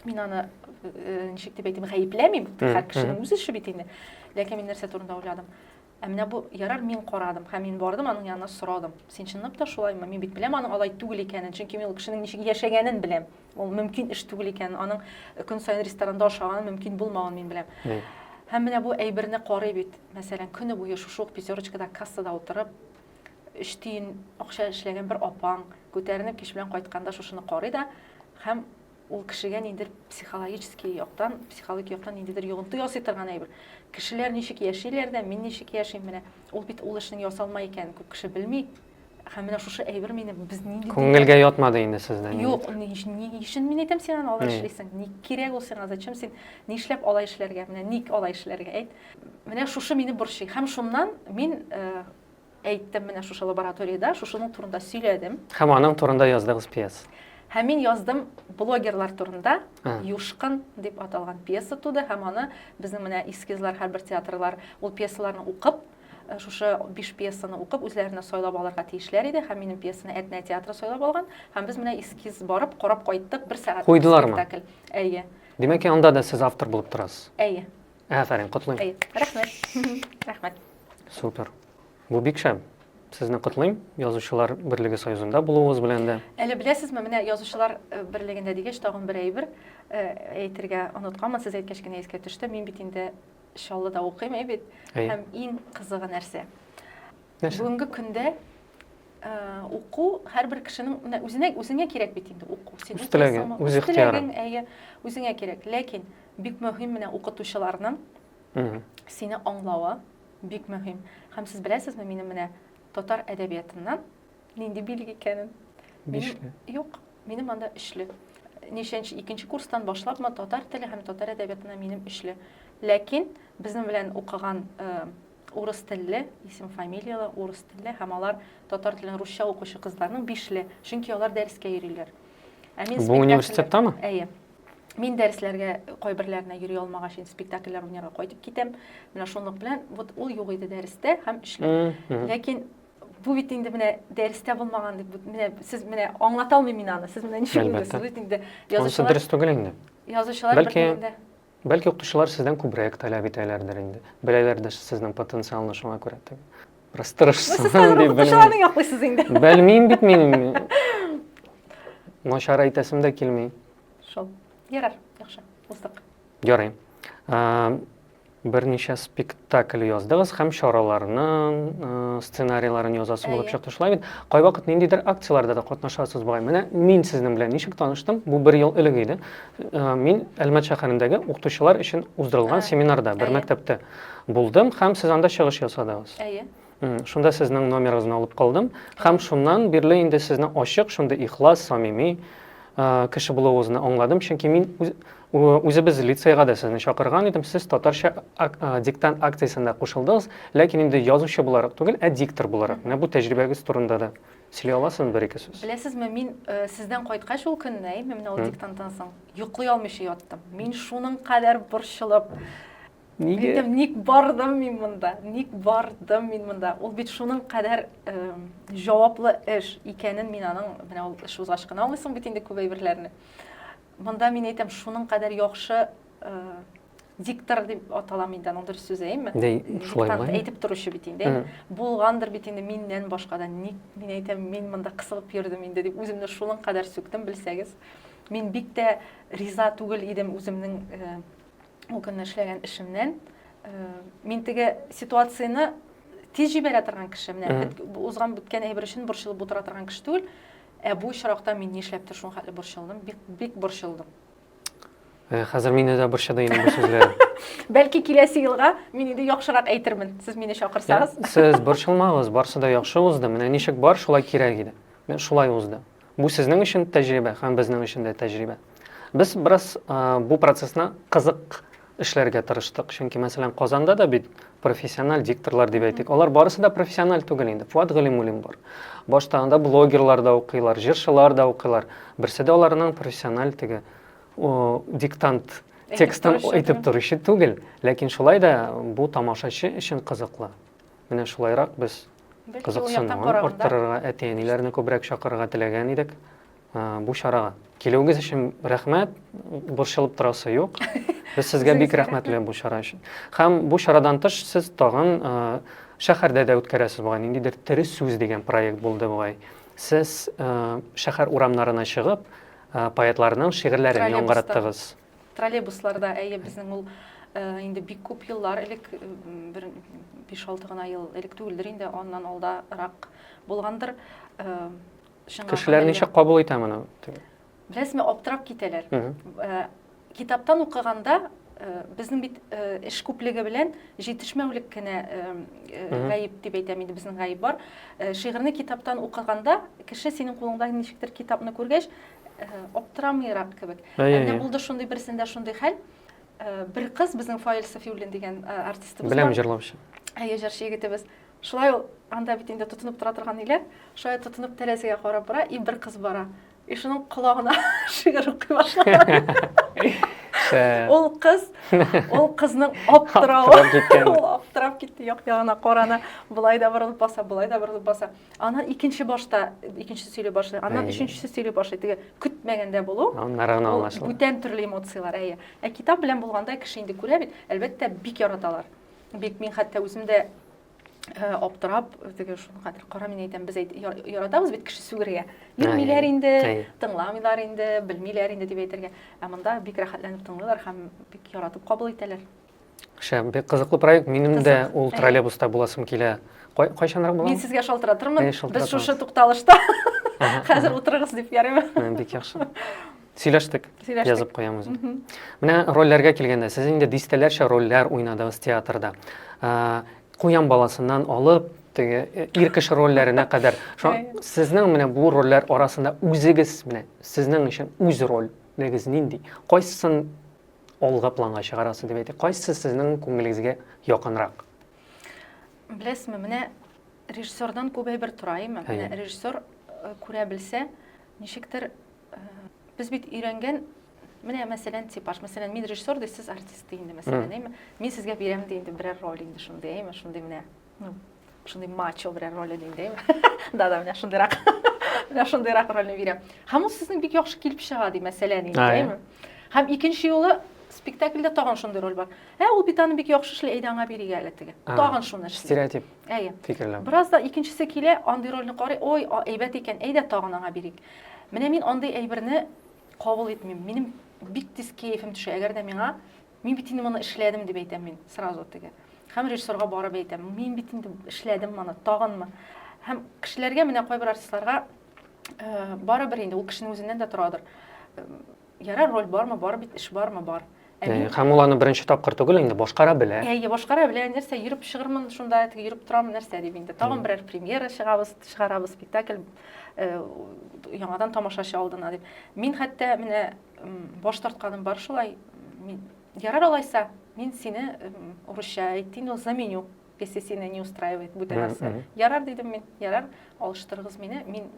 мин аны э, ничек дип әйтим, гаепләмим, һәр кешенең үз эше бит инде. Ләкин мин нәрсә турында уйладым? Ә менә бу ярар мин карадым һәм мин бардым аның янына сорадым. Син чынлап та шулаймы? Мин бит беләм аның алай түгел икәнен, чөнки мин ул кешенең ничек яшәгәнен беләм. Ул мөмкин эш түгел икәнен, аның көн саен ресторанда ашаганын мөмкин булмавын мин беләм. Һәм менә бу әйберне карый бит. Мәсәлән, көне буе шушы ук пятерочкада кассада утырып, өч тиен акча эшләгән бер апаң күтәренеп кич белән кайтканда шушыны карый да һәм Ул кешегә ниндидер психологический яктан, психологик яктан ниндидер йогынты ясый торган әйбер. Кешеләр ничек яшиләр дә, мин ничек яшим менә. Ул бит ул эшнең ясалма икәнен күп кеше белми. Һәм менә шушы әйбер мине без нинди Күңелгә ятмады инде сездә. Юк, ни өчен мин әйтәм син аны алай эшлисең? Ник кирәк ул сиңа? Зачем син? Нишләп алай эшләргә? Менә ник алай эшләргә? Әйт. Менә шушы мине борчый. Һәм шуннан мин э, әйттем менә шушы лабораториядә, шушының турында сөйләдем. Һәм аның турында яздыгыз пьес. Һәм мин яздым блогерлар турында Юшкын дип аталган пьеса туды һәм аны безнең менә эскизлар һәрбер театрлар ул пьесаларны укып э, шушы биш пьесаны укып үзләренә сайлап алырга тиешләр иде һәм минем пьесаны Әтнә театры сайлап алган һәм без менә эскиз барып карап кайттык бер сәгать куйдылармы спектакль әйе димәк анда да сез автор булып торасыз әйе Афәрин, котлыйм. Әйе, рәхмәт. Рәхмәт. Супер. Бу бик шәп. Сезне котлыйм, Язучылар берлеге союзында булуыгыз белән дә. Әле беләсезме, менә Язучылар э, берлегендә дигәч, тагын бер әйбер э, әйтергә онытканмын, сез әйткәч кенә искә төште. Мин бит инде Чаллыда укыйм, әй бит. Һәм иң кызыгы нәрсә? Нәрсә? Бүгенге көндә Э, уку һәрбер кешенең менә үзенә үзеңә кирәк бит инде уку син үз теләге үз ихтыярың әйе үзеңә кирәк ләкин бик мөһим менә укытучыларның сине аңлавы бик мөһим һәм сез беләсезме минем менә татар әдәбиятыннан нинди билге икәнен бишле юк минем анда өчле ничәнче икенче курстан башлапмы татар теле һәм татар әдәбиятына минем өчле ләкин безнең белән укыган э, Урыс телле, исем-фамилияле, урыс телле һәм алар татар телен русча укучы кызларның бишле, чөнки алар дәрескә йөриләр. Ә мин Бу университеттамы? Әйе. Мин дәресләргә кайберләренә йөри алмагач, инде спектакльләр уйнарга кайтып китәм. Менә шунлык белән вот ул юк иде дәрестә һәм эшләр. Ләкин бу бит инде менә дәрестә булмаган дип менә сез менә аңлата алмыйм мин аны. Сез менә ничек уйлыйсыз? Бит инде язучылар. Дөрес түгел инде. Язучылар бер Бәлки укытучылар сездән күбрәк таләп итәләрдер инде. Беләләр дә сезнең потенциалны шуңа күрә. Бераз тырышсаң дип белмим. Сез укытучыларны яклыйсыз инде. Белмим бит мин. Начар әйтәсем дә килми. Шул. Ярар, яхшы. Уздык. Ярый. Берничә спектакль яздыгыз һәм чараларның сценарийларын язасы булып чыкты шулай бит. Кайвакыт ниндидер акцияләрдә дә катнашасыз бугай. Менә мин сезнең белән ничек таныштым? Бу бер ел элек иде. Мин Әлмәт шәһәрендәге укытучылар өчен уздырылган семинарда бер мәктәптә булдым һәм сез анда чыгыш ясадыгыз. Әйе. Шунда сезнең номерыгызны алып калдым һәм шуннан бирле инде сезне ачык, шундый ихлас, самими кеше булуыгызны аңладым, чөнки мин үзебез лицейга да сезне чакырган идем, сез татарча диктант акциясендә кушылдыгыз, ләкин инде язучы буларак түгел, ә диктор буларак. Менә бу тәҗрибәгез турында да Сөйли аласызмы бер-ике сүз? Беләсезме, мин сездән кайткач ул көнне, менә ул диктанттан соң, йоклый алмыйча яттым. Мин шуның кадәр борчылып, Нигә? Ник бардым мин монда? Ник бардым мин монда? Ул бит шуның кадәр җаваплы эш икәнен мин аның, менә ул эш узгач кына аңлыйсың бит инде күп әйберләрне. Монда мин әйтәм, шуның кадәр яхшы диктор дип аталамы инде аның дөрес сүзе әйеме диктант әйтеп торучы бит инде булгандыр бит инде миннән башка да ник мин әйтәм мин монда кысылып йөрдем инде дип үземне шуның кадәр сүктем белсәгез мин бик тә риза түгел идем үземнең э, ул көнне эшләгән эшемнән э, мин теге ситуацияне тиз җибәрә торган кеше менә узган беткән әйбер өчен борчылып утыра торган кеше түгел ә бу очракта мин нишләптер шул хәтле борчылдым бик бик борчылдым Э, хәзер мине дә борчыды инде бу сүзләр. Бәлки киләсе елга мин инде яхшырак әйтермен, сез мине чакырсагыз. Сез борчылмагыз, барсы да яхшы узды. Менә ничек бар, шулай кирәк иде. Мен шулай узды. Бу сезнең өчен тәҗрибә һәм безнең өчен дә тәҗрибә. Без бераз э, бу процессны кызык эшләргә тырыштык. Чөнки, мәсәлән, Казанда да бит профессиональ дикторлар дип әйтик. Алар барысы да профессиональ түгел инде. Фуат Галимуллин бар. Башта анда блогерлар да укыйлар, җырчылар да укыйлар. Берсе дә аларның профессиональ теге диктант текстын әйтеп торучы түгел. Ләкин шулай да бу тамашачы өчен кызыклы. Менә шулайрак без кызыксынуын арттырырга, әти-әниләрне күбрәк чакырырга теләгән идек. бу чарага. Килүегез өчен рәхмәт, борчылып торасы юк. Без сезгә бик рәхмәтле бу чара өчен. Һәм бу чарадан тыш сез тагын шәһәрдә дә үткәрәсез бугай, ниндидер тере сүз дигән проект булды бугай. Сез шәһәр урамнарына чыгып, поэтларның шигырьләрен яңгыраттыгыз. Троллейбусларда, әйе, безнең ул инде бик күп еллар элек, бер 5-6 гына ел элек түгелдер инде, аннан алдарак булгандыр. Чынга Кешеләр гына ничек кабул итә моны? Беләсезме, аптырап китәләр. Э, китаптан укыганда э, безнең бит э, эш күплеге белән җитешмәүлек кенә гаеп дип әйтәм инде безнең гаеп бар. Шигырьне китаптан укыганда кеше синең кулыңда ничектер китапны күргәч аптырамыйрак кебек. Әнә булды шундый берсендә шундый хәл. Бер кыз безнең Фаил Сафиуллин дигән артистыбыз. Беләм җырлаучы. Әйе, җырчы егетебез. Шулай ул анда бит инде тотынып тора торган ниләр, шулай тотынып тәрәзәгә карап бара, и бер кыз бара. И шуның колагына шигырь укый башлаган. Ул кыз, ул кызның аптыравы, ул аптырап китте, як ягына карана, болай да борылып баса, болай да борылып баса. Аннан икенче башта, икенчесе сөйли башлый, аннан өченчесе сөйли башлый, теге көтмәгәндә булу. Аннары гына аңлашыла. Бүтән төрле эмоцияләр, әйе. Ә китап белән булганда кеше инде күрә бит, әлбәттә, бик яраталар. Бик мин хәтта үзем дә Э, аптырап теге шуны хәзер кара мин әйтәм без әйт, яратабыз бит кеше сүгергә йөрмиләр инде тыңламыйлар инде белмиләр инде дип әйтергә ә монда бик рәхәтләнеп тыңлыйлар һәм бик яратып кабул итәләр шәп бик кызыклы проект минем дә ул троллейбуста буласым килә кайчанрак була мин сезгә шалтыратырмын без шушы тукталышта хәзер утырыгыз дип ярыймы бик яхшы Сөйләштек. Сөйләштек. Язып куям үзем. Мгм. Менә рольләргә килгәндә, сез инде дистәләрчә рольләр уйнадыгыз театрда. Ә, Куян баласыннан алып, теге э, ир кеше рольләренә кадәр. Шо, Әйе. сезнең менә бу рольләр арасында үзегез менә сезнең өчен үз рольлегез нинди? Кайсысын алгы планга чыгарасыз дип әйтик? Кайсы сезнең күңелегезгә якынрак? Беләсезме, менә Режиссердан күп әйбер тора, әйме? Менә режиссер э, күрә белсә, ничектер э, без бит өйрәнгән менә мәсәлән типаж мәсәлән мин режиссер ди сез артист ди инде мәсәлән әйме мин сезгә бирәм ди инде берәр роль инде шундый әйме шундый менә ну шундый мачо берәр роль ди инде әйме да да менә шундыйрак менә шундыйрак рольне бирәм һәм ул сезнең бик яхшы килеп чыга ди мәсәлән инде әйме һәм икенче юлы спектакльдә тагын шундый роль бар ә ул бит аны бик яхшы эшли әйдә аңа бирик әле теге тагын шуны эшли стереотип Әйе. Фикерләү. Бераз да икенчесе килә, андый рольне карый, ой, әйбәт икән, әйдә тагын аңа бирик. Менә мин андый әйберне кабул итмим. Минем бик тиз кәефем төшә. Әгәр дә миңа мин бит инде моны эшләдем дип әйтәм мин сразу теге. Һәм режиссерга барып әйтәм, мин бит инде эшләдем моны, тагынмы? Һәм кешеләргә менә кайбер артистларга э, барыбер инде ул кешенең үзеннән дә торадыр. Э, Ярар, роль бармы, бар бит, эш бармы, бар. Ә Ә, мин- Һәм ул аны беренче тапкыр түгел инде, башкара белә. Әйе, башкара белә, нәрсә, йөреп чыгырмын шунда, теге йөреп торам, нәрсә дип инде. Тагын Мгм. берәр премьера чыгабыз, чыгарабыз спектакль э, яңадан тамашачы алдына дип. Мин хәтта менә м, баш тартканым бар шулай. Мин, ярар алайса, мин сине м, урысча әйтин, ул заменю песесина не устраивает бөтә нәрсә ярар дидем мин ярар алыштырыгыз мине мин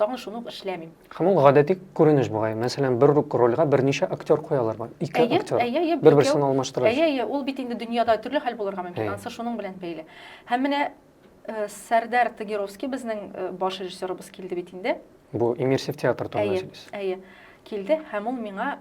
тагын шуны ук эшләмим һәм ул гадәти күренеш бугай мәсәлән бер рольгә берничә актер куялар бар ике әйе, актер әйе, әйе, бер берсен алмаштырып әйе әйе ул бит инде дөньяда төрле хәл булырга мөмкин анысы шуның белән бәйле һәм менә э, сәрдәр тагировский безнең э, баш режиссерыбыз килде бит инде бу иммерсив театр турында әйе әйе килде һәм ул миңа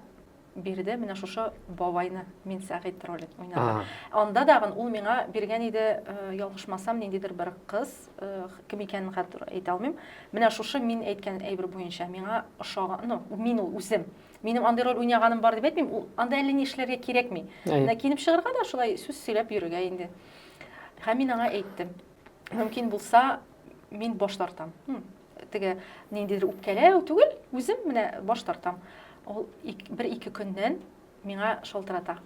Биредә менә шушы бабайны мин Сәгыйть ролен уйнадым. Анда да ул миңа биргән иде, э, ялгышмасам, ниндидер бер кыз, э, кем икәнен хәзер әйтә алмыйм. Менә шушы мин әйткән әйбер буенча миңа ошаган, ну, мин ул үзем. Минем андый роль уйнаганым бар дип әйтмим, ул анда әллә ни эшләргә кирәкми. Менә киенеп чыгарга да шулай сүз сөйләп йөрергә инде. Һәм мин аңа әйттем. Мөмкин булса, мин баш тартам. теге ниндидер үпкәләү түгел, үзем менә баш тартам. Ул бер ике көннән миңа шалтырата.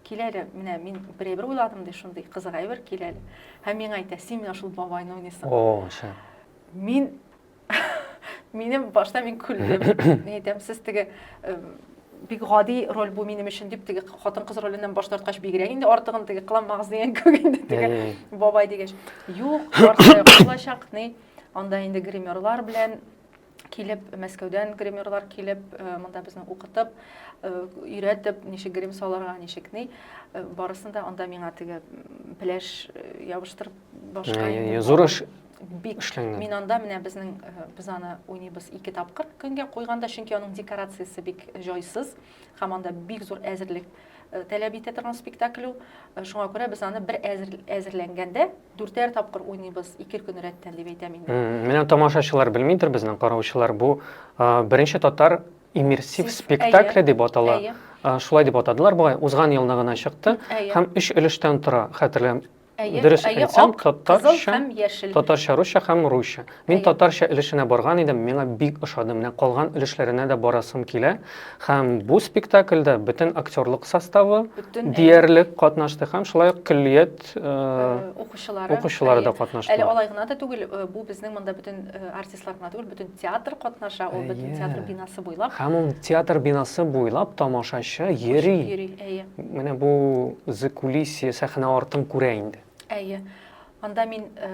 Килә әле, менә мин бер әйбер уйладым ди, шундый кызык әйбер килә әле. Һәм миңа әйтә, син менә шул бабайны уйныйсың. О, шәп. Мин минем башта мин күлдем. Мин әйтәм, сез теге бик гади роль бу минем өчен дип теге хатын кыз роленнән баш тарткач бигрәк инде артыгын теге кыламагыз дигән кебек инде теге бабай дигәч юк шулай чакный Анда инде гримерлар белән килеп, Мәскәүдән гримерлар килеп, э, монда безне укытып, э, өйрәтеп, ничек грим салырга, ничек ни, э, барысын да анда миңа теге пеләш ябыштырып башка. Зур эш бик эшләнгән. Мин анда менә безнең без аны уйныбыз ике тапкыр көнгә куйганда, чөнки аның декорациясе бик җайсыз. һәм анда бик зур әзерлек э, таләп итә торган спектакль ул. Э, шуңа күрә без аны бер әзер, әзерләнгәндә дүртәр тапкыр уйныйбыз, ике көн рәттән дип әйтәм инде. Менә тамашачылар белмидер безнең караучылар бу э, беренче татар иммерсив спектакле дип атала. Шулай дип атадылар бугай. Узган елны гына чыкты һәм өч өлештән тора, хәтерләм Әйе, Дөрес әйе, әйтсәм, ак, татарча- кызыл һәм яшел. Татарча, русча һәм русча. Мин Әйе. татарча өлешенә барган идем, миңа бик ошады. Менә калган өлешләренә дә барасым килә. Һәм бу спектакльдә бөтен актерлык составы Бөтен, әйе. диярлек катнашты һәм шулай ук көллият э, Э, Укучылары. укучылары да әйе. Әле катнаштылар. алай гына да түгел, э, бу безнең монда бөтен э, артистлар гына түгел, бөтен театр катнаша, ул бөтен театр бинасы буйлап. Һәм ул театр бинасы буйлап тамашачы йөри. Йөри, әйе. Менә бу закулисье сәхнә артын күрә инде. Әйе. Анда мин э,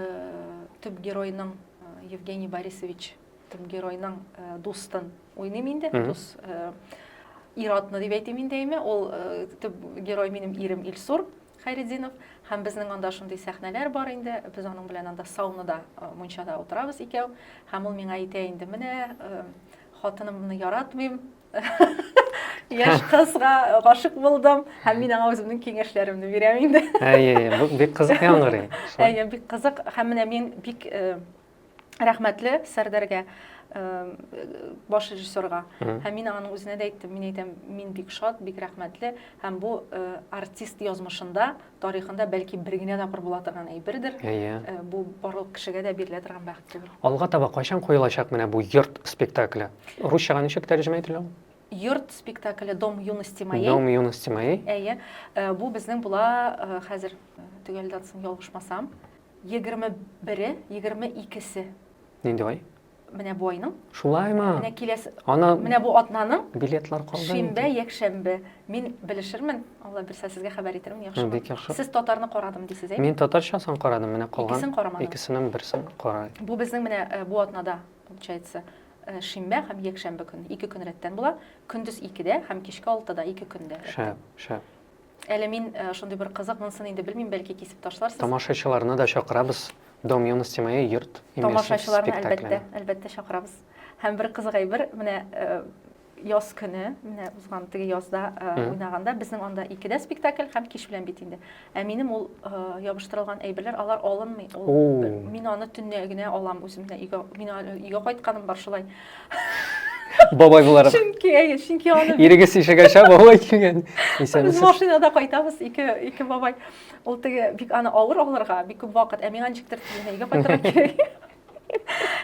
төп геройның э, Евгений Борисович төп геройның э, дустын уйныйм инде. Дус ир атны дип әйтим инде әйме. Ул төп герой минем ирем Илсур. Хәйретдинов, һәм безнең анда шундый сәхнәләр бар инде, без аның белән анда саунада, мунчада утырабыз икәү, һәм ул миңа әйтә инде, менә хатынымны яратмыйм, яшь кызга гашык булдым, һәм мин аңа үземнең киңәшләремне бирәм инде. Әйе, бу бик кызык яңгырый. Әйе, бик кызык, һәм менә мин бик рәхмәтле Сәрдәргә баш режиссерга. Һәм мин аның үзенә дә әйттем, мин әйтәм, мин бик шат, бик рәхмәтле, һәм бу артист язмышында, тарихында бәлки бер генә тапкыр була торган әйбердер. Бу барлык кешегә дә бирелә торган бәхет түгел. Алга таба кайчан куелачак менә бу йорт спектакле? Русчага ничек тәрҗемә ителә ул? Йорт спектакле Дом юности моей. Дом юности моей. Әйе. Бу безнең була хәзер төгәлдән соң ялгышмасам. Егерме бере, егерме икесе. Нинди ай? Менә бу айның. Шулаймы? Менә киләсе. Ана. Менә бу атнаның. Билетлар калды. Шимбә, якшәмбе. Мин белешермен. Алла бирсә сезгә хәбәр итермен, яхшымы? Бик яхшы. Сез татарны карадым дисез, әйе? Мин татарчасын карадым, менә калган. Икесен карамадым. Икесенең берсен карай. Бу безнең менә э, бу атнада, получается, э, шимбә һәм якшәмбе көн. Ике көн рәттән була. Көндез икедә һәм кичке алтыда ике көндә. Шәп, шәп. Әле мин э, шундый бер кызык, монысын инде белмим, бәлки кисеп ташларсыз. Тамашачыларны да чакырабыз. Дом юности моей йорт имеси Тамашачыларны әлбәттә, әлбәттә чакырабыз. Һәм бер кызык әйбер, менә э, яз көне, менә узган теге язда э, уйнаганда безнең анда икедә спектакль һәм кич белән бит инде. Ә минем ул ябыштырылган әйберләр, алар алынмый. Ул мин аны төнлә генә алам үземне өйгә. Мин өйгә кайтканым бар шулай. Бабай буларак. Чөнки, әйе, чөнки аны Ирегез ишегәчә бабай килгән. Без Исәнмесез. машинада кайтабыз, ике, ике бабай. Ул теге бик аны авыр алырга, бик күп вакыт, ә миңа ничектер тиз генә өйгә кайтырга кирәк.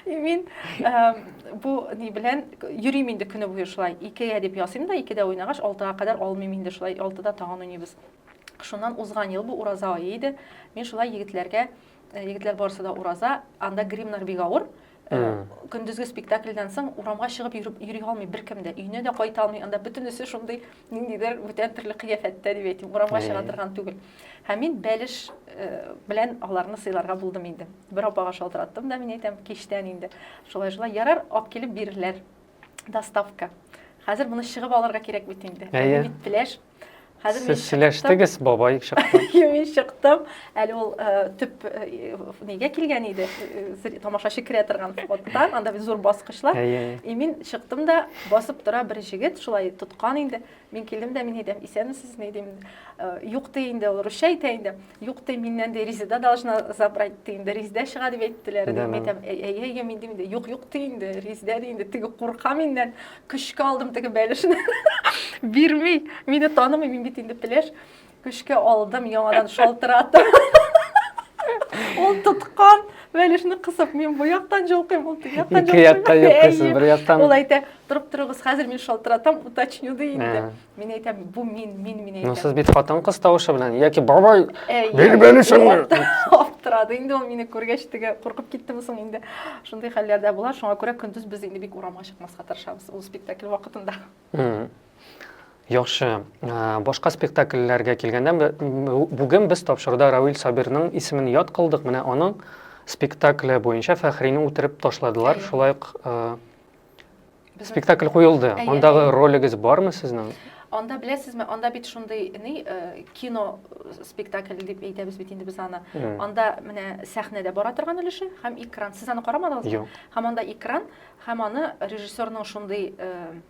И мин эм, бу ни белән йөрим инде көне буе шулай. Икегә дип ясыйм да, икедә уйнагач, алтыга кадәр алмыйм инде шулай. Алтыда тагын уйныйбыз. Шуннан узган ел бу ураза ае иде. Мин шулай егетләргә, э, егетләр барысы да ураза, анда гримнар бик авыр. көндезге спектакльдән соң урамга чыгып йөреп йөри алмый беркем дә өенә дә кайта алмый анда бөтенесе шундый ниндидер бүтән төрле кыяфәттә дип әйтим урамга чыга торган түгел һәм мин бәлеш э, белән аларны сыйларга булдым инде бер апага шалтыраттым да мин әйтәм кичтән инде шулай шулай ярар алып килеп бирерләр доставка хәзер моны чыгып алырга кирәк бит инде бит пеләш Хәзер Сез сөйләштегез, бабай чыкты. Мин чыктым. Әле ул э, төп э, нигә килгән иде? Э, тамашачы керә торган фоттан, анда бит зур баскычлар. И мин чыктым да, басып тора бер җегет, шулай тоткан инде. Мин килдем дә мин әйтәм, исәнмесезме дим. Юк ди инде, ул русча әйтә инде. Юк ди, миннән ди, Резеда должна забрать ди инде, Резеда чыга дип әйттеләр ди. Мин әйтәм, әйе, әйе, мин дим инде, юк, юк ди инде, Резеда ди инде, теге курка миннән, көчкә алдым теге бәлешне, бирми, мине танымый, мин бит инде пеләш, көчкә алдым, яңадан шалтыратып. Ул тоткан бәлешне кысып, мин бу яктан җолкыйм, ул теге яктан җолкыйм. Ике яктан җолкыйсыз, бер яктан. Ул әйтә, торып торыгыз, хәзер мин шалтыратам, уточню ди инде. Мин әйтәм, бу мин, мин, мин әйтәм. Ну, сез бит хатын кыз тавышы белән, яки бабай, бир бәле шыңны. Аптырады инде ул мине күргәч теге куркып киттеме соң инде. Шундый хәлләрдә була, шуңа күрә көндез без инде бик урамга чыкмаска тырышабыз ул спектакль вакытында. Яхшы. Башка спектакльләргә килгәндә, бүген без тапшыруда Равил Сабирның исемен яд кылдык. Менә аның спектакле буенча Фәхрине үтереп ташладылар. Шулай ук Спектакль куелды. Андагы ролегез бармы сезнең? Анда беләсезме, анда бит шундый ни э, кино спектакль дип әйтәбез бит инде без аны. Анда менә сәхнәдә бара торган өлеше һәм экран. Сез аны карамадыгызмы? Юк. Һәм анда экран һәм аны режиссерның шундый э,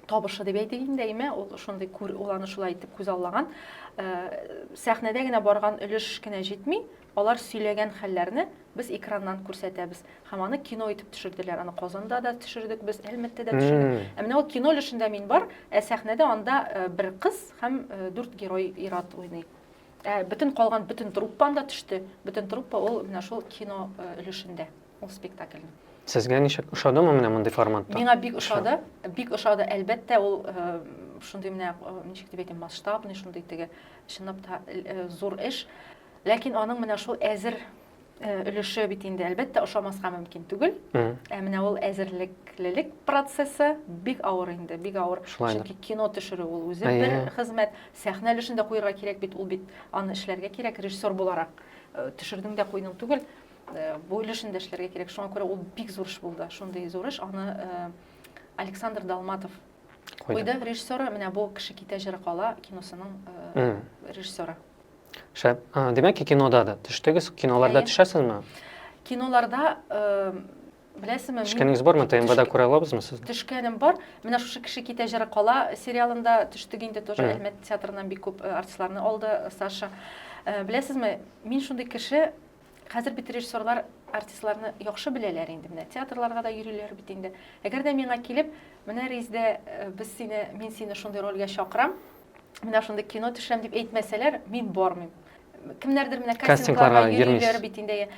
табышы дип әйтик инде әйме ул шундый күр ул аны шулай итеп күзаллаган э, сәхнәдә генә барган өлеш кенә җитми Алар сөйләгән хәлләрне без экраннан күрсәтәбез һәм аны кино итеп төшерделәр. Аны Казанда да төшердек без, Әлмәттә дә төшердек. Ә менә ул кино өлешендә мин бар, ә сәхнәдә анда бер кыз һәм дүрт герой ир-ат уйный. Ә бөтен калган бөтен труппа анда төште. Бөтен труппа ул менә шул кино өлешендә ул спектакльнең. Сезгә ничек, ошадымы менә мондый форматта? Миңа бик ошады, бик ошады. Әлбәттә, ул шундый менә, ничек дип әйтим, масштабный, шундый теге, чынлап та зур эш. Ләкин аның менә шул әзер өлеше бит инде әлбәттә ошамаска мөмкин түгел. Ә менә ул әзерлеклелек процессы бик авыр инде, бик авыр. Чөнки кино төшерү ул үзе бер хезмәт. Сәхнә өлешен дә куярга кирәк бит, ул бит аны эшләргә кирәк режиссер буларак. Төшердең дә куйдың түгел. Бу өлешен дә эшләргә кирәк. Шуңа күрә ул бик зур эш булды. Шундый зур эш аны Александр Долматов куйды. Режиссеры менә бу кеше китә җыры кала киносының режиссеры. Шәп. Димәк ки, кинода да төштегез. Киноларда төшәсезме? Киноларда беләсезме? Төшкәнегез бармы? ТМВда күрә алабызмы сезне? Төшкәнем бар. Менә шушы кеше китә җыры кала сериалында төштек инде тоже Әлмәт театрыннан бик күп артистларны алды Саша. Беләсезме, мин шундый кеше, Хәзер бит режиссерлар артистларны яхшы беләләр инде, менә театрларга да йөриләр бит инде. Әгәр дә миңа килеп, менә Ризде, э, без сине, мин сине шундый рольгә чакырам, менә шундый кино төшерәм дип әйтмәсәләр, мин бармыйм. Кемнәрдер менә кастингларга йөриләр бит инде.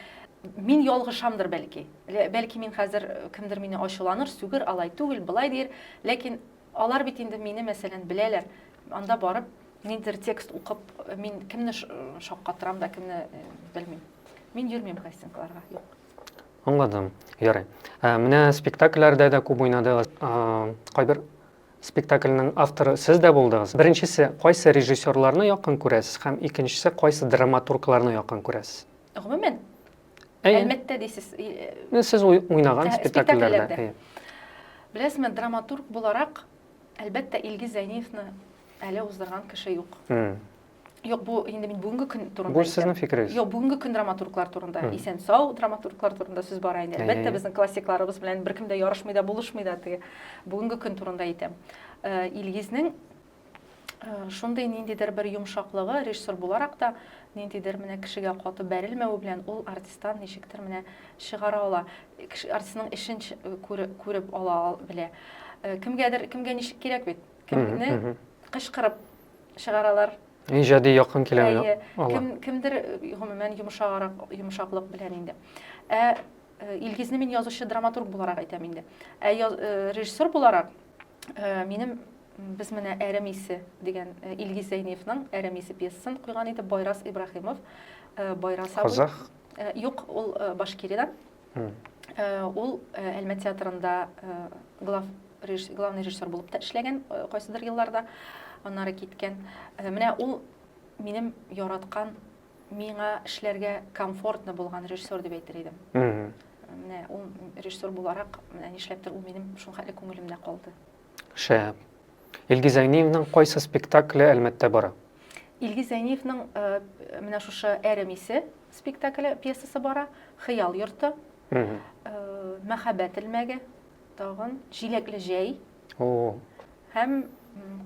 Мин ялгышамдыр бәлки. Бәлки мин хәзер э, кемдер мине ачуланыр, сүгер, алай түгел, былай дир, ләкин Алар бит инде мине, мәсәлән, беләләр, анда барып, ниндидер текст укып, мин кемне шаккатырам да, кемне белмим. Мин йөрмим кастингларга, юк. Аңладым. Ярый. Ә, менә спектакльләрдә дә күп уйнадыгыз. Кайбер спектакльнең авторы сез дә булдыгыз. Беренчесе, кайсы режиссерларны якын күрәсез һәм икенчесе, кайсы драматургларны якын күрәсез? Гомумән, Әйе. Әлмәттә дисез. Э, сез уйнаган спектакльләрдә. Беләсезме, драматург буларак, әлбәттә, Илгиз Зәйниевны әле уздырган кеше юк. Юк, бу инде мин бүгенге көн турында. Бу сезнең фикерегез. Юк, бүгенге көн драматурглар турында, исән сау драматурглар турында сүз бара инде. Әлбәттә, безнең классикларыбыз белән беркем дә ярышмый да, булышмый да теге. Бүгенге көн турында әйтәм. Э, Илгизнең шундый ниндидер бер йомшаклыгы режиссер буларак та ниндидер менә кешегә каты бәрелмәве белән ул артисттан ничектер менә чыгара ала артистның эшен күреп ала белә кемгәдер кемгә ничек кирәк бит кемне кычкырып чыгаралар иҗади якын килә кем кемдер гомумән йомшаграк йомшаклык белән инде ә илгизне мин язучы драматург буларак әйтәм инде ә режиссер буларак Э, минем без менә әрем исе дигән э, Илгиз Зәйниевның әрем исе пьесасын куйган иде Байрас Ибраһимов. Э, Байрас абый. Казах? Юк, ул Башкиридан. Ул Әлмә театрында глав главный режиссер булып та эшләгән кайсыдыр елларда. Аннары киткән. Менә ул минем яраткан миңа эшләргә комфортно булган режиссер дип әйтер идем менә ул режиссер буларак менә нишләптер ул минем шулхәтле күңелемдә калды шәп илгиз зәйниевның кайсы спектакле әлмәттә бара илгиз зәйниевның э, менә шушы әрем исе спектакле пьесасы бара хыял йорты э, мәхәббәт элмәге тагын җиләкле җәй О-о. Һәм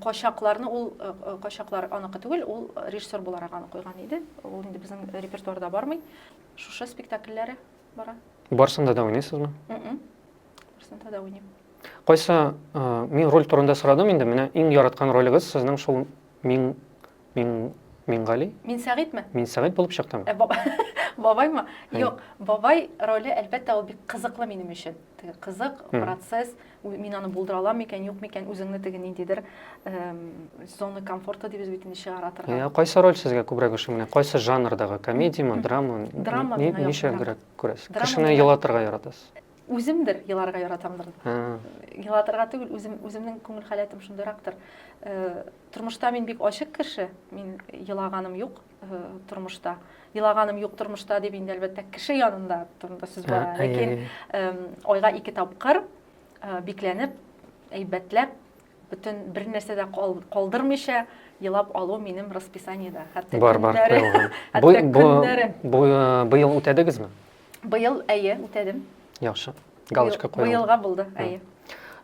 качакларны ул э, э, качаклар аныкы түгел, ул режиссер буларак аны куйган иде. Ул инде безнең репертуарда бармый. Шушы спектакльләре бара. Барсында да уйныйсызмы? Барсында да уйныйм. Кайсы э, мин роль турында сорадым инде, менә иң яраткан ролегез сезнең шул мин Мин Мингали? Мин Сәгыйтьме? Мин Сәгыйть булып чыктым. Ә баба бабаймы? Юк, бабай роле әлбәттә ул бик кызыклы минем өчен. Теге кызык процесс, мин аны булдыра алам микән, юк микән, үзеңне теге ниндидер зона комфорта дибез бит инде чыгара торган. Ә кайсы роль сезгә күбрәк ошый? Менә кайсы жанрдагы? Комедиямы, драма? Драма миңа яхшырак. Ничә күрәсез? Кешене елатырга яратасыз? Үземдер еларга яратамдыр. Елатырга түгел, үзем үземнең күңел халәтем шундыйрактыр. Э, тормышта мин бик ачык кеше, мин елаганым юк э, тормышта. Елаганым юк тормышта дип инде әлбәттә кеше янында турында сүз бара. Ләкин айга ике тапкыр э, бикләнеп, әйбәтләп, бөтен бер нәрсә дә калдырмыйча елап алу минем расписаниедә. Хәтта бар, бар, көннәре. Быел үтәдегезме? Быел, әйе, үтәдем. Яхшы. Галочка куелды. Быелга булды, әйе.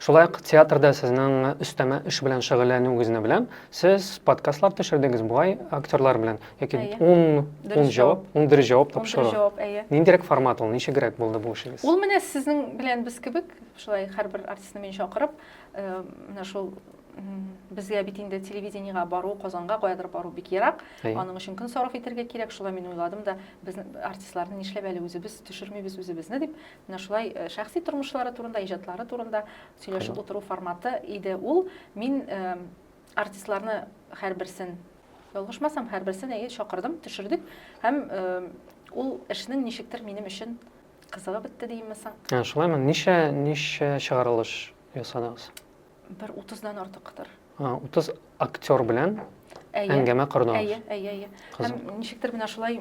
Шулай ук театрда сезнең өстәмә эш белән шөгыльләнүегезне беләм. Сез подкастлар төшердегез бугай актерлар белән. Яки 10 10 җавап, 10 дөрес җавап тапшыру. 10 җавап, әйе. Ниндирәк формат ул? Ничегрәк булды бу эшегез? Ул менә сезнең белән без кебек, шулай һәрбер артистны мин чакырып, э, менә шул безгә бит инде телевидениега бару казанга каядыр бару бик ерак аның өчен көн сарыф итәргә кирәк шулай мин уйладым да без артистларны нишләп әле үзебез төшермибез үзебезне дип менә шулай э, шәхси тормышлары турында иҗатлары турында сөйләшеп утыру форматы иде ул мин э, артистларны һәрберсен ялгышмасам һәрберсен әйе чакырдым төшердек һәм э, ул эшнең ничектер минем өчен кызыгып бетте деймме соң ә, шулаймы ничә ничә чыгарылыш ясадыгыз Бер утыздан артыктыр. Утыз актер белән әңгәмә кордыгыз. Әйе, әйе, әйе. Һәм ничектер менә шулай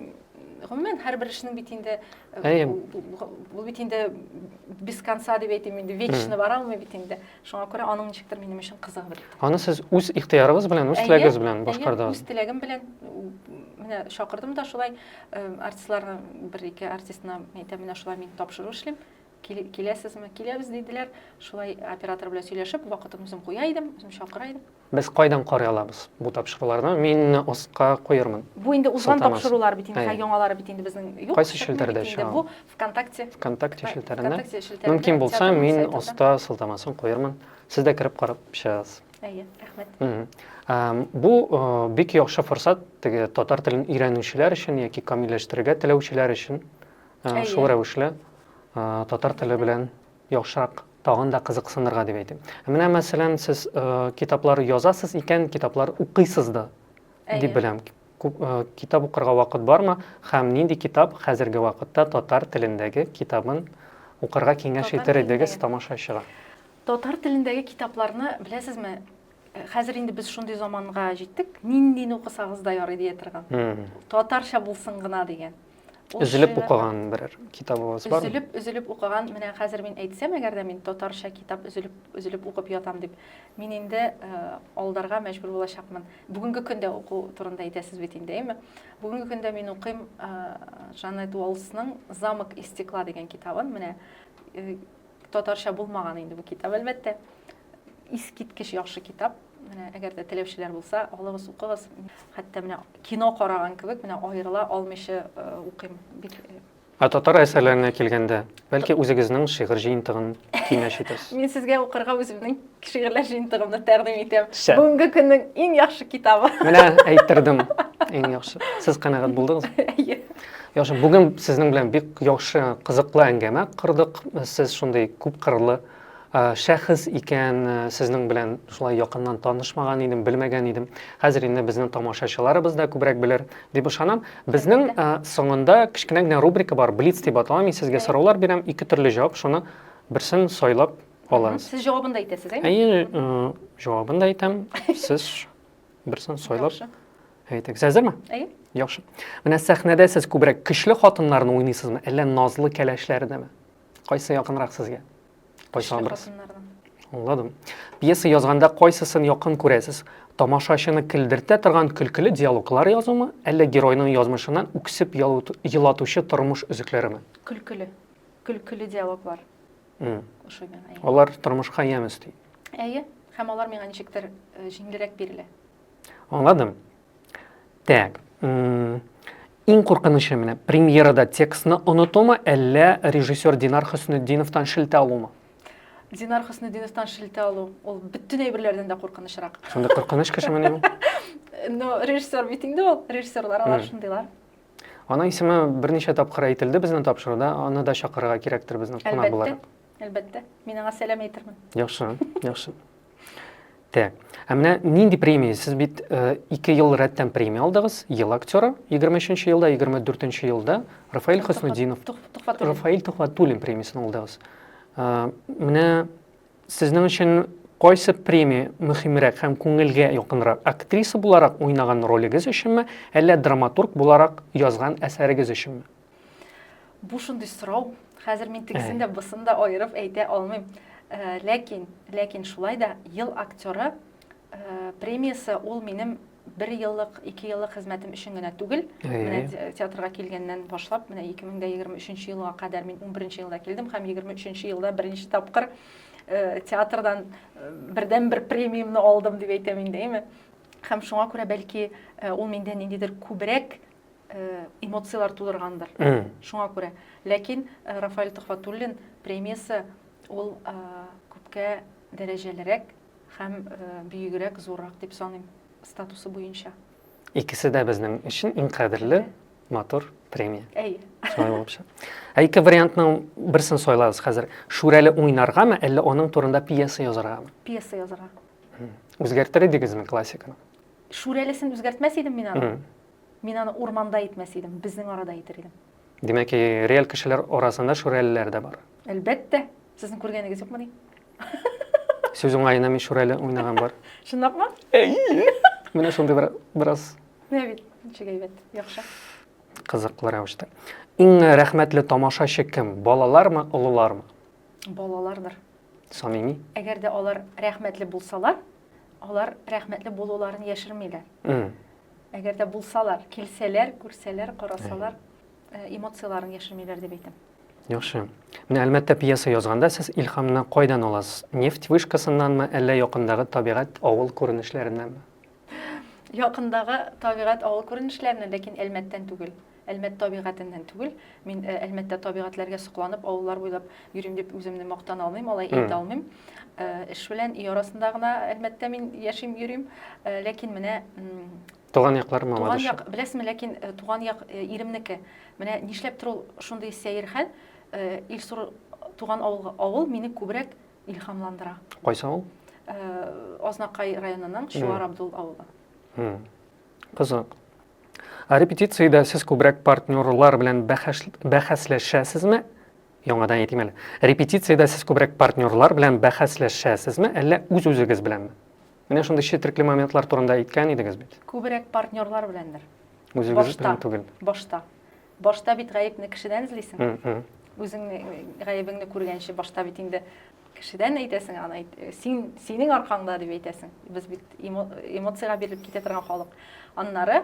гомумән һәрбер эшнең бит инде э, бу бит инде без конца дип әйтим инде вечно бара алмый бит инде шуңа күрә аның ничектер минем өчен кызыгы бер аны сез үз ихтыярыгыз белән үз теләгегез белән башкардыгыз үз теләгем белән менә чакырдым да шулай э, артистларны бер ике артистына әйтәм менә шулай мин тапшыру эшлим Киләсезме? Киләбез, диделәр. Шулай оператор белән сөйләшеп, вакытын үзем куя идем, үзем чакыра идем. Без кайдан карый алабыз бу тапшыруларны? Мин оска куермын. Бу инде узган тапшырулар бит инде, яңалары бит инде безнең юк. Кайсы челтәрдә чыга? Бу ВКонтакте. ВКонтакте челтәрендә. Мөмкин булса, мин оска сылтамасын куермын. Сез дә кереп карап чыгыгыз. Әйе, рәхмәт. Бу бик яхшы форсат теге татар телен өйрәнүчеләр өчен яки камилләштерергә теләүчеләр өчен. Ә, Әйе. Шул рәвешле ә, татар теле белән яхшырак тагын да кызыксынырга дип әйтим. Ә Менә мәсәлән, сез ә, китаплар язасыз икән, китаплар укыйсыз да Әйе. дип беләм. Күп, ә, Китап укырга вакыт бармы һәм нинди китап хәзерге вакытта татар телендәге китабын укырга киңәш Татар итер идегез телендәге. тамашачыга? Татар телендәге китапларны, беләсезме, э, хәзер инде без шундый заманга җиттек, ниндине укысагыз да ярый дия торган. Мгм. Татарча булсын гына дигән. Өзелеп укыган берәр китабыгыз бар? Өзелеп, өзелеп укыган, менә хәзер мин әйтсәм, әгәр дә мин татарча китап өзелеп, өзелеп укып ятам дип, мин инде э, алдарга мәҗбүр булачакмын. Бүгенге көндә уку турында әйтәсез бит инде, әйме? Бүгенге көндә мин укыйм э, Жанет Уолсның Замок из стекла дигән китабын, менә э, Татарча булмаган инде бу китап, әлбәттә. Искиткеч яхшы китап. Менә әгәр дә теләүчеләр булса, алыгыз, укыгыз. Хәтта менә кино караган кебек, менә аерыла алмыйча э, укыйм. Бик э, Ә татар әсәрләренә килгәндә, бәлки үзегезнең шигырь җыентыгын киңәш итәсез? Мин сезгә укырга үземнең Шигырьләр җыентыгымны тәкъдим итәм. Шә. Бүгенге көннең иң яхшы китабы. Менә әйттердем. Иң яхшы. Сез канәгать булдыгыз? Әйе. Яхшы, бүген сезнең белән бик яхшы, кызыклы әңгәмә кырдык. Сез шундый күп кырлы шәхес икән, сезнең белән шулай якыннан танышмаган идем, белмәгән идем. Хәзер инде безнең тамашачыларыбыз да күбрәк белер дип ышанам. Безнең соңында кечкенә генә рубрика бар, Блиц дип атала. Мин сезгә сораулар бирәм, ике төрле җавап, шуны берсен сайлап аласыз. Сез җавабын да әйтәсез, әйме? Әйе, э, җавабын да әйтәм. Сез берсен сайлап әйтегез. Әзерме? Әйе. Яхшы. Менә сәхнәдә сез күбрәк көчле хатыннарны уйныйсызмы, әллә назлы кәләшләрдәме? Кайсы якынрак сезгә? Кайсы абырсыз? Аңладым. Пьеса язганда кайсысын якын күрәсез? Тамашачыны көлдертә торган көлкеле диалоглар язумы, әллә геройның язмышыннан үксеп елатучы тормыш өзекләреме? Көлкеле. Көлкеле диалоглар. ошый миңа алар тормышка ямь өсти әйе һәм алар миңа ничектер э, җиңелрәк бирелә аңладым так иң куркынычы менә премьерада текстны онытумы әллә режиссер динар хөснетдиновтан шелтә алумы динар хөснетдиновтан шелтә алу ул бөтен әйберләрдән дә куркынычрак шундый куркыныч кеше мени ул но режиссер бит инде ул режиссерлар алар шундыйлар Аның исеме берничә тапкыр әйтелде безнең тапшыруда, аны да чакырырга кирәктер безнең кунак буларак. Әлбәттә, мин аңа сәлам әйтермен. Яхшы, яхшы. Так. Ә менә нинди премия? Сез бит э, ике ел рәттән премия алдыгыз. Ел актеры 23-нче елда, 24-нче елда Рафаэль Хөснудинов, Рафаэль Тухватуллин премиясен алдыгыз. Э, менә Сезнең өчен кайсы премия мөһимрәк һәм күңелгә якынрак, актриса буларак уйнаган ролегез өченме, әллә драматург буларак язган әсәрегез өченме? Бу шундый сорау, хәзер мин тегесен дә, бусын да аерып әйтә алмыйм. Ләкин, ләкин шулай да ел актеры Премиясе ул минем бер еллык, ике еллык хезмәтем өчен генә түгел. Менә театрга килгәннән башлап, менә 2023 елга кадәр мин 11 елда килдем һәм 23 елда беренче тапкыр э, театрдан э, бердән бер премиямны алдым дип әйтәм инде, әйме? Һәм шуңа күрә бәлки э, ул миндә ниндидер күбрәк эмоцияләр тудыргандыр. Шуңа күрә. Ләкин Рафаэль Төхвәтуллин премиясе ул күпкә дәрәҗәлерәк Һәм бөегрәк, зуррак дип саныйм, статусы буенча. Икесе дә безнең өчен иң кадерле, матур премия. Әй. Шулай булып чык. Ә ике вариантның берсен сайлагыз хәзер. Шүрәле уйнаргамы, әллә аның турында пьеса язаргамы? Пьеса язарга. Үзгәртер идегезме классиканы? Шүрәлесен үзгәртмәс идем мин аны. Мин аны урманда итмәс идем, безнең арада итер идем. Димәк, реаль кешеләр арасында шүрәлеләр дә бар. Әлбәттә. Сезнең күргәнегез юкмыни? Сүз уңаена мин шүрәле уйнаган бар. Чынлапмы? Әйе. Менә шундый бер бераз. Менә бит, ничек әйбәт, яхшы. Кызыклы рәвештә. Иң рәхмәтле тамашачы кем? Балалармы, олылармы? Балалардыр. Самими. Әгәр дә алар рәхмәтле булсалар, Алар рәхмәтле булуларын яшермиләр. Әгәр дә булсалар, килсәләр, күрсәләр, карасалар, э, эмоцияләрен яшермиләр дип әйтәм. Яхшы. Менә Әлмәттә пьеса язганда сез илхамны кайдан аласыз? Нефть вышкасыннанмы, әллә якындагы табигать авыл күренешләреннәнме? Якындагы табигать авыл күренешләреннән, ләкин Әлмәттән түгел. Әлмәт табигатеннән түгел, мин Әлмәттә табигатьләргә сокланып, авыллар буйлап йөрим дип үземне мактана алмыйм, алай әйтә алмыйм. Эш белән өй арасында гына Әлмәттә мин яшим, йөрим. Ләкин менә Туган яклар Мамадыш. Туган як, беләсезме, ләкин туган як иремнеке. Менә нишләптер ул шундый сәер хәл, Илсур туган авыл, авыл мине күбрәк илһамландыра. Кайсы авыл? Азнакай районының Чуар Абдул авылы. Кызык. Ә репетициядә сез күбрәк партнерлар белән бәхәсләшәсезме? Яңадан әйтим әле. Репетициядә сез күбрәк партнерлар белән бәхәсләшәсезме, әллә үз-үзегез беләнме? Менә шундый четерекле моментлар турында әйткән идегез бит. Күбрәк партнерлар беләндер. Үзегез белән түгел. Башта. Башта бит гаепне кешедән эзлисең. Үзең гаебеңне күргәнче башта бит инде кешедән әйтәсең, аны әйт, син, синең аркаңда дип әйтәсең. Без бит эмоциягә бирелеп китә торган халык. Аннары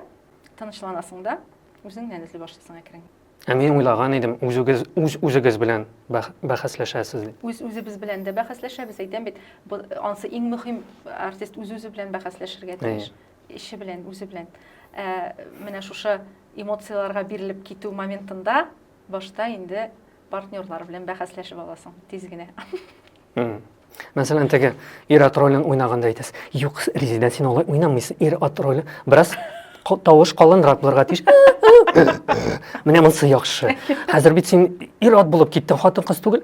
тынычланасың да, үзеңнән эзли башлыйсың әкрен. Ә мин уйлаган идем, үзегез үз үзегез белән бәхәсләшәсез дип. Үз үзебез белән дә бәхәсләшәбез, әйтәм бит. Ансы иң мөһим артист үз үзе белән бәхәсләшергә тиеш. Әйе. Ише белән, үзе белән. Ә, менә шушы эмоцияләргә бирелеп китү моментында башта инде партнерлар белән бәхәсләшеп аласың тиз генә. Мәсәлән, теге ир ат ролен уйнаганда әйтәс. Юк, Резидә, син алай уйнамыйсың. Ир ат роле бераз тавыш калынрак булырга тиеш. Менә монысы яхшы. Хәзер бит син ир ат булып киттең, хатын-кыз түгел.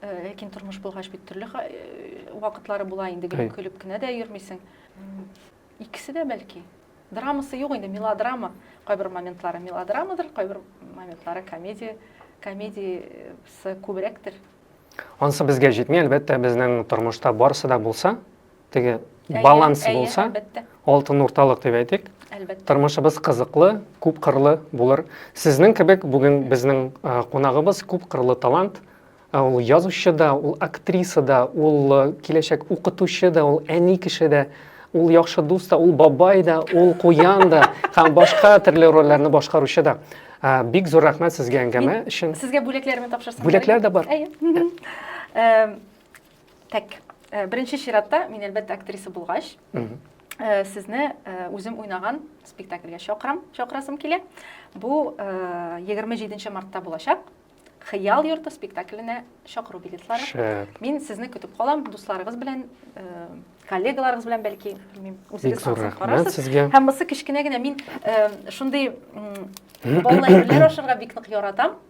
Ләкин тормыш булгач бит төрле вакытлары була инде, гөлеп көлеп кенә дә йөрмисең. Икесе дә бәлки. Драмасы юк инде, мелодрама. Кайбер моментлары мелодрамадыр, кайбер моментлары комедия, комедиясы күбрәктер. Ансы безгә җитми, әлбәттә, безнең тормышта барысы да булса, теге баланс булса алтын урталык дип әйтик әлбәттә тормышыбыз кызыклы күп кырлы булыр сезнең кебек бүген безнең кунагыбыз күп кырлы талант ул язучы да ул актриса да ул киләчәк укытучы да ул әни кеше дә ул яхшы дус та ул бабай да ул куян да һәм башка төрле рольләрне башкаручы да бик зур рәхмәт сезгә әңгәмә өчен сезгә бүләкләремне тапшырсам бүләкләр дә бар Так, э, беренче чиратта мин әлбәттә актриса булгач, э, сезне э, үзем уйнаган спектакльгә чакырам, чакырасым килә. Бу 27 мартта булачак. Хыял йорты спектакленә чакыру билетлары. Шәп. Мин сезне көтеп калам, дусларыгыз белән, коллегаларыгыз белән бәлки, белмим, үзегез карарсыз. Сезгә. Һәм мысы кечкенә генә мин шундый балалар ашарга бик нык яратам.